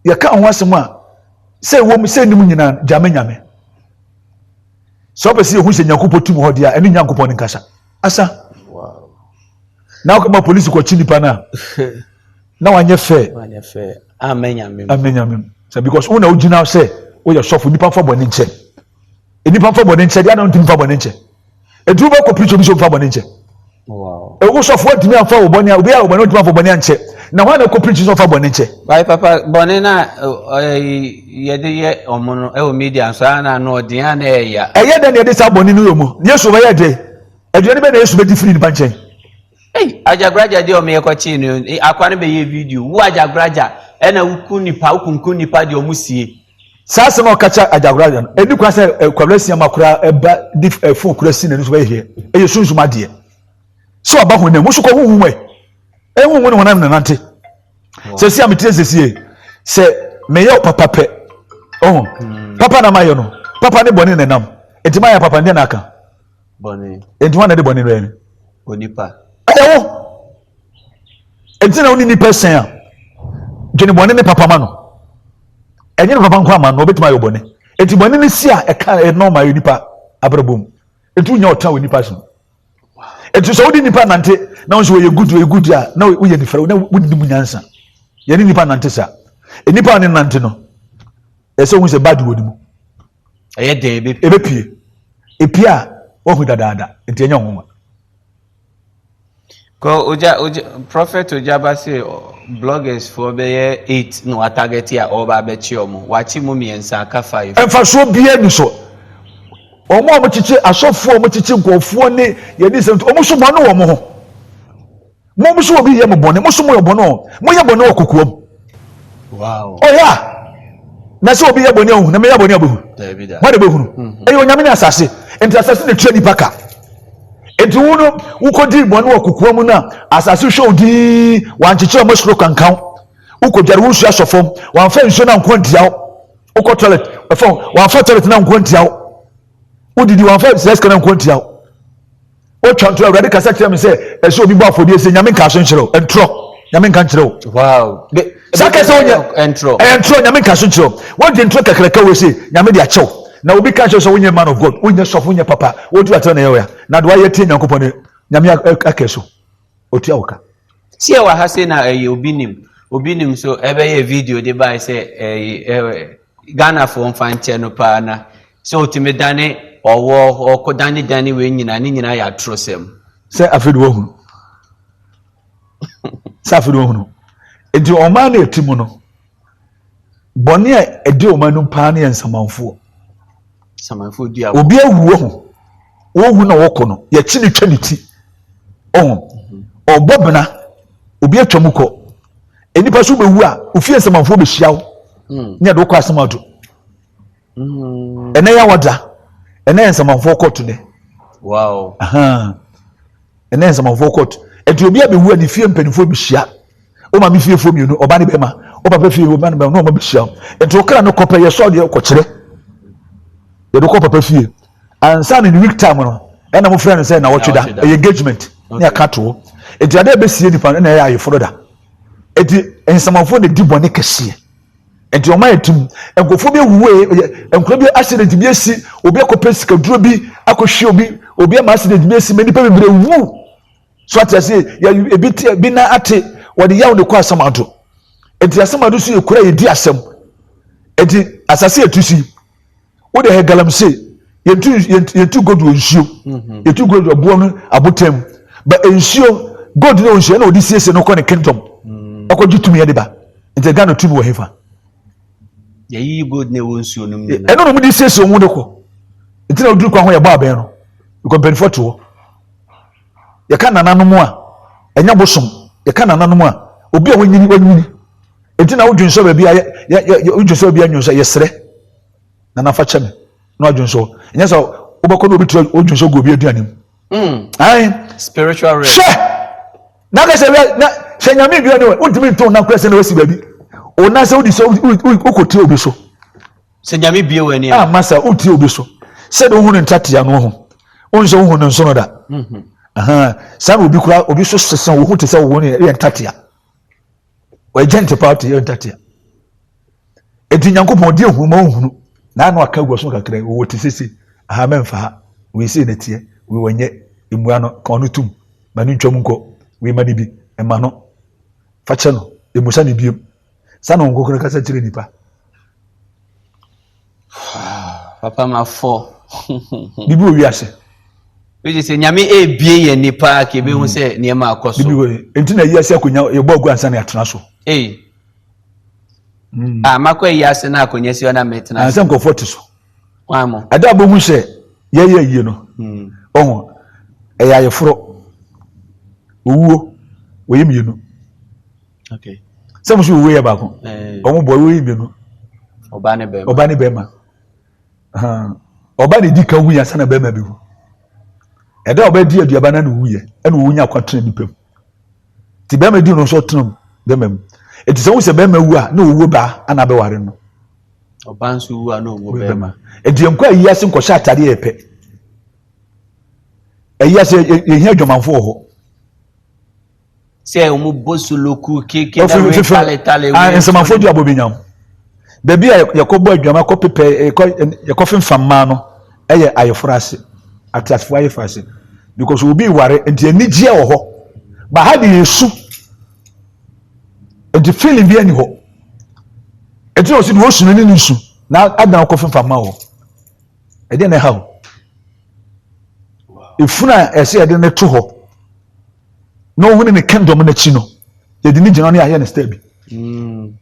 [SPEAKER 1] yɛka ho asɛm a sɛ ɛwɔ mu sɛ nim nyinaa gyame nyame sɛ wopɛ sɛ yɛhu sɛ nyankopɔn tim hɔ deɛ a ɛne nyankopɔn ne nkasa asa
[SPEAKER 2] na
[SPEAKER 1] wokɔma polisi kɔkye nipa no a na wanyɛ fɛ amanyamem sɛ because wo na wogyina sɛ woyɛ sɔfo nnipa mfa bɔne nkyɛ nnipa mfa bɔne nkyɛ deɛ na wontumi mfa bɔne nkyɛ ɛduru bɛ kɔ preach obi sɛ mfa bɔne nkyɛ ɛwo
[SPEAKER 2] sɔfo wontumi
[SPEAKER 1] amfa wo bɔne a obi a wo bɔne wontumi amfa bɔne ankyɛ na hɔ na kɔ preach sɛ ɔfa bɔne nkyɛ bae papa bɔne
[SPEAKER 2] no a yɛde yɛ ɔmo no ɛwɔ media nso a na ano ɔden a na ɛyɛ ya ɛyɛ dɛ na yɛde saa bɔne
[SPEAKER 1] no yɛ mu yesu bɛyɛ dɛ aduane bɛ na yesu bɛdi firi nipa nkyɛn Ei agyagoragya
[SPEAKER 2] deɛ ɔmo yɛ kɔkyee no eh, akwa no bɛyɛ video wo agyagoragya ɛna woku nipa wokunku nipa deɛ ɔmo sie. Saa asɛm a ɔkakyɛ
[SPEAKER 1] agyagoragya no ɛni kwan sɛ eh, kwabra sia ma koraa ɛba de eh, fon kura si n'ani so bɛyɛ heɛ ɛyɛ sunsum adeɛ sɛ ɔba honam mu so kɔ honhom ɛ ɛhonhom ne honam nanante sɛ si a metire sɛ sie sɛ meyɛ papa pɛ ɔho hmm. papa na mayɛ no papa ne bɔne nanam ɛti mayɛ papa ndeɛ na aka bɔne.
[SPEAKER 2] Enti wɔn na ɛde bɔne no
[SPEAKER 1] yɛn. Onipa.
[SPEAKER 2] Ɛyɛ wo.
[SPEAKER 1] Enti na wo ne nipa sɛn a dwene bɔne ne papa ma no. Ɛnyɛ ne papa nko ama no obetumi ayɛ bɔne. Enti bɔne no si a ɛka ɛnɔɔma yɛ nipa abrabɔ mu. Enti wonya ɔtɔ a wɔ nipa so. Enti sɛ wode nipa nante na wo nso wɔyɛ good wɔyɛ good a na woyɛ nifra na wodi mu nyansa. Yɛne nipa nante sa. Nipa a ne nante no ɛsɛ ohun sɛ bad wɔ ne mu. Ɛyɛ dɛ
[SPEAKER 2] ebe. Ebepie.
[SPEAKER 1] Epie a wahu dadaada nti ɛnyɛ nwonwa.
[SPEAKER 2] Kɔ ogya ogya prophet ogyaba se bloggers foɔ bɛyɛ eight na watarget a ɔreba abɛkye wɔn wakye mu mmiɛnsa aka five. Mfasoɔ biara ni
[SPEAKER 1] so wɔn a wɔkyekye asɔfoɔ a wɔkyekye nkurɔfoɔ ne yɛn nsɛm wɔn nso bɔne wɔ wɔn ho. Mo mo so obi yɛ mo bɔne mo so mo yɛ bɔne o mo yɛ bɔne wɔ kokoam.
[SPEAKER 2] Wow. Ɔyɛ a
[SPEAKER 1] na sɛ obi yɛ bɔne ahu na meyɛ bɔne abɛhu. Mo de bɛhunu. Mhm. Ɛyɛ onyame ne asase nti asase na tua nipa ka. Nti wo no wokɔdi bɔne wɔ kokoa mu no a asase hwɛ wo dii wankyekyerɛ mo soro kankan wokɔdware wo nsuo asɔ fam wamfa nsuo no anko antia wo wokɔ toilet ɛfam wamfa toilet no anko antia wo wodidi wamfa sɛ sika no anko antia wo Wotwa ntorɔ, Awurade kasa kyerɛ me sɛ ɛsɛ obi bɔ afɔdeɛ sɛ Nyame nka so nkyerɛ wo. Ntorɔ, Nyame nka nkyerɛ wo. Wow.
[SPEAKER 2] Saa kasa
[SPEAKER 1] wonya, ɛyɛ ntorɔ, Nyame nka so nkyerɛ wo. Wogye ntorɔ kakraka wei sɛ Nyame de akyɛ wo. Na obi ka kyerɛ sɛ wonyɛ man of God, wonyɛ sɔfo, wonyɛ papa, woduru atena na ɛyɛ wo ya. Na de wayɛ tie Nyankopɔn no, Nyame aka so.
[SPEAKER 2] Otua wo ka. Sɛ yɛwɔ ha
[SPEAKER 1] sei na
[SPEAKER 2] ɛyɛ obi
[SPEAKER 1] nim,
[SPEAKER 2] obi nim so ɛbɛyɛ video de bae sɛ ɛyi ɛɛ Ghanafoɔ mfa nkyɛ no paa na sɛ otumi dane ɔwɔ ɔko dane dane wei nyinaa ne nyinaa yɛ atorosɛm. Sɛ afei de
[SPEAKER 1] wahunu. Sɛ afei de wahunu. Nti ɔman no ɛti mu no. bɔne a ɛdi wɔn anim paa no yɛ nsamanfoɔ nsamanfoɔ
[SPEAKER 2] di agorɔ obi awu wɔ
[SPEAKER 1] ho wɔhu na wɔkɔ no yɛkyi ne twa ne ti ɔho mhm. ɔbɔ bena obi atwa mu kɔ nnipa so bɛwu a ofie nsamanfoɔ bɛhyia wo hmm. ne ɛde wokɔ asɛm ato ɛnɛ yɛ wɔda ɛnɛ yɛ nsamanfoɔ kɔɔto nɛ ɛnɛ yɛ nsamanfoɔ kɔɔto ɛti obi abɛwu a ne fie mpanimfoɔ bɛhyia o maame fiefoɔ mmienu ɔba ne bɛma o papa fie ɔba ne bɛma na ɔma bɛhyia o ɛti okra no kɔpɛ yɛ sɔɔ deɛ kɔkyerɛ yɛde kɔ papa fie ansa ne ne week time no ɛna mo frɛ no sɛ na wɔtwe da ɛyɛ engagement ne ɛka toɔ ɛti adeɛ bɛsie nipa no na ɛyɛ ayeforo da ɛti nsamanfoɔ na di bɔne kɛseɛ Nti wɔn ayɛ tim. Nkurɔfoɔ bi awuwu eh, eh, eh, nkuro bi accident bi asi, obi akɔpɛ sikaduro bi akɔhwie obi, obi ama accident bi asi, ma nnipa bebree wu. So ate aseɛ, yɛ- ebi te ebi nan ate, wɔde yaw na ɛkɔ asamado. Nti asamado so yɛ kuro a yɛdi asɛm. Nti asase a ɛtu si, wo de hɛ galamsey yɛntu yɛntu yɛntu gold wɔ nsuo mhm. yɛtu gold wɔ boɔ no abotan mu ba nsuo gold no wɔ nsuo ɛna wɔde siesie no kɔ ne kingdom mhm. ɛkɔ gye tumi ɛde ba nti ghana tumi wɔ hefa.
[SPEAKER 2] yɛyi gold na ɛwɔ nsuo no mu nyinaa ɛna wɔn de siesie wɔn de
[SPEAKER 1] kɔ nti na oduru kwan ho yɛ bɔ abɛn no nkɔ mpanyinfoɔ to hɔ yɛka nananom a ɛnya bosom yɛka nananom a obi a wɔnyini wɔnyini nti na wodwi nsɔ baabi a yɛ yɛ yɛ wodwi nsɔ baabi a nyɛ nsɔ yɛsrɛ. na nafa kyɛ me na ɔdwen so ɛnyɛ sɛ wobɛkɔ na obi tura ɔdwen so gu obi aduane mu hmm. spiritual rest
[SPEAKER 2] hyɛ na
[SPEAKER 1] ka sɛ na sɛ nyame dua ne wɔ wontumi nto na kora sɛ na wasi baabi wo nan sɛ wodi so wokɔtie obi so sɛ nyame
[SPEAKER 2] bie wɔ ani ama sɛ wotie obi so
[SPEAKER 1] sɛde wohu no ntatea no ho wohu sɛ wohu no nsono da mhm. saa na obi kora obi so sesa wohu te sɛ wo ne yɛ ntatea wɔagya ntepa ɔte yɛ ntatea eti nyankopɔn di ehunu ma ohunu na ano aka gu so kakra yi wɔwɔ ti sese aha mɛnfa ha wei sei na teɛ wei wɔnyɛ mmua no ka ɔno tum ma no ntwam nkɔ wei ma no bi ɛma no fakyɛ no emusa no biem sani wɔn kokoro kasa kyerɛ nipa
[SPEAKER 2] papa ma fɔ biribi wɔ
[SPEAKER 1] wiase wogye sɛ
[SPEAKER 2] nyame ɛbie yɛ ni paa ka ɛbɛhu sɛ mm. nneɛma akɔ so ɛnti na yiase
[SPEAKER 1] akonya yɛbɔ agu ansa ne atena so ei
[SPEAKER 2] mm. a ah, makɔ ayiase no akonya si ɔna mɛtena ansɛ nkɔfoɔ te so
[SPEAKER 1] ɛda
[SPEAKER 2] bɛhu sɛ
[SPEAKER 1] yɛyɛ yie no mm. ɔho ɛyɛ ayɛforɔ owuo wɔyɛ mmienu
[SPEAKER 2] sɛ mo so owo
[SPEAKER 1] yɛ baako ɔmo bɔ owo yi mmienu ɔba ne
[SPEAKER 2] bɛrima ɔba ne bɛrima
[SPEAKER 1] ɔba ne di ka wu yɛ ansa na bɛrima bi wu ɛda a ɔbɛdi aduaba na ne wu yɛ ɛna owu nya akwa tena nipa mu ti bɛrima di no nso tena mu bɛrima mu eti sɛ wosɛ bɛrima wu a na owu baa ana abɛware no ɔba nso
[SPEAKER 2] wu a na owu bɛrima eti yɛn kɔ ayi ase
[SPEAKER 1] nkɔhyɛ atade yɛ pɛ ayi ase yɛhia adwamanfo wɔ hɔ.
[SPEAKER 2] sɛ ɔmo bɔ soloku keke na wei tale tale wei. nsɛmafo di abɔ bi nyam
[SPEAKER 1] baabi a yɛkɔ bɔ adwuma kɔ pepɛ yɛkɔ yɛkɔ fimfam mmaa no ɛyɛ ayeforo ase ateasefo ayeforo ase because obi ware nti anigyeɛ wɔ hɔ ba ha de esu nti feeling bi ɛni hɔ ɛti na ɔsi de osu no ne ne su na adan kɔ fimfam mmaa wɔ ɛdeɛ na ɛha o efunu a ɛsɛ yɛde ne to hɔ. na ɔhu ne ne kingdom no akyi no yɛde ne gyina no yɛayɛ no star bi ɛti mm.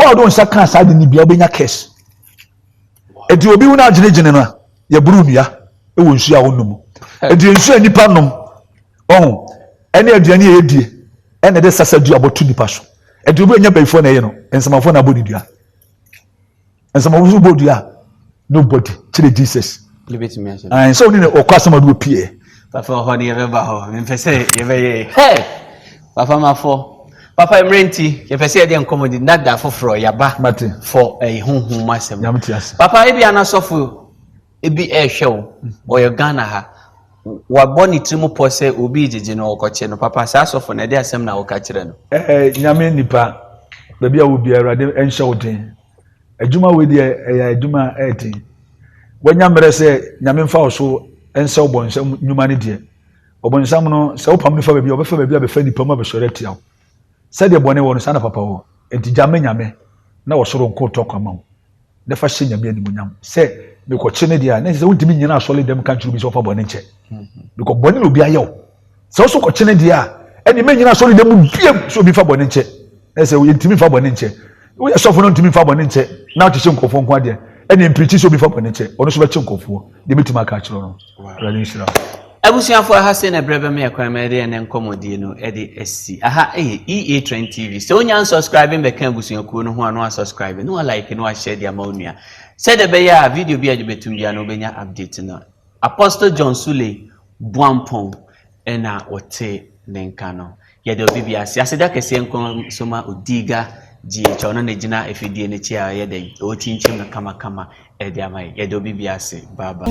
[SPEAKER 1] wɔ ɔde nsa kaa saa de ne bia wobɛnya cash ɛti obi hu no agyenegyene no a yɛboro nnua ɛwɔ nsuo a wonom ɛti nsuo a nnipa nom ɔho ɛne aduane a yɛdie ɛna ɛde sasa dua bɔto nnipa so ɛti obi anya bayifoɔ na ɛyɛ no nsamafoɔ na abɔ ne dua nsɛm ɔwɔ so bɔ dua nobody kyerɛ jesus
[SPEAKER 2] ɛnsɛ ɔne na ɔkɔ asɛm ɔde
[SPEAKER 1] ɔpie papa ɔhɔ ne yɛbɛba
[SPEAKER 2] hɔ mempɛ sɛ yɛbɛyɛ hɛ papa mafɔ papa mmerɛ nti yɛpɛ sɛ yɛde nkɔmmɔ de nada foforɔ yɛaba fɔ ɛyi eh,
[SPEAKER 1] honhom
[SPEAKER 2] mu asɛm papa ebi
[SPEAKER 1] anasɔfo
[SPEAKER 2] ebi ɛrehwɛ wo ɔyɛ ghana ha wabɔ ne tiri mu pɔ sɛ obi gyegye no ɔkɔkye no papa saa asɔfo na ɛde asɛm na woka kyerɛ no ɛɛ eh, nyame nipa
[SPEAKER 1] baabi a wo biara awurade nhyɛ wo den Adwuma wei deɛ ɛyɛ adwuma a ɛyɛ den. Wanya mmerɛ sɛ Nyame mfa wo so nsɛ ɔbɔnsam nnwuma no deɛ, ɔbɔnsam no sɛ wopam no fa baabi a, ɔbɛfa baabi abɛfa nnipa mu abɛsɔre atia wo. Sɛdeɛ bɔne wɔ no, saa na papa wɔ. Enti gya ma Nyame na ɔsoro nko tɔ kwan ma wo, na fa hyɛ Nyame animuonyam sɛ mekɔkye no deɛ a, na ɛsɛ sɛ wontumi nnyina asɔre dɛm nka nkyerɛ obi sɛ ɔmfa bɔne nkyɛ, because bɔne na obi ayɛ wo. sɛ ɔso kɔkyene deɛ a ɛne mɛnyina asɔre dɛm biam sɛ obi fa bɔne nkyɛ na sɛ yɛntumi fa bɔne nkyɛ woyɛ sɔfo no ntumi fa bɔne nkyɛ na ɔkyekyɛ nkurɔfoɔ nko adeɛ ɛne mpirikyi sɛ obi fa bɔne nkyɛ ɔno so bɛkye nkurɔfoɔ deɛ mɛtumi aka akyerɛ no awurade nhyira
[SPEAKER 2] abusuafo aha sei na berɛ bɛma yɛ kwan ma yɛde ɛnɛ nkɔmmɔdie no de asi aha ɛyɛ ea trend tv sɛ wonya nsubscribe bɛka abusuakuo no ho a na wasubscribe na walike na wahyɛ de ama wo nua sɛdeɛ ɛbɛyɛ a video bi a yɛde bɛtum bia no wobɛnya update no apostle john suley Boampɔn na wɔte ne nka no. Yɛda obi bi ase. Aseda kɛseɛ nko nso ma Odiga GH a ɔno na gyina afidie no akyi a ɔyɛ dɛn? Ɔrekyinkyim no kamakama de ama yɛn. Yɛda obi bi ase. Bye bye.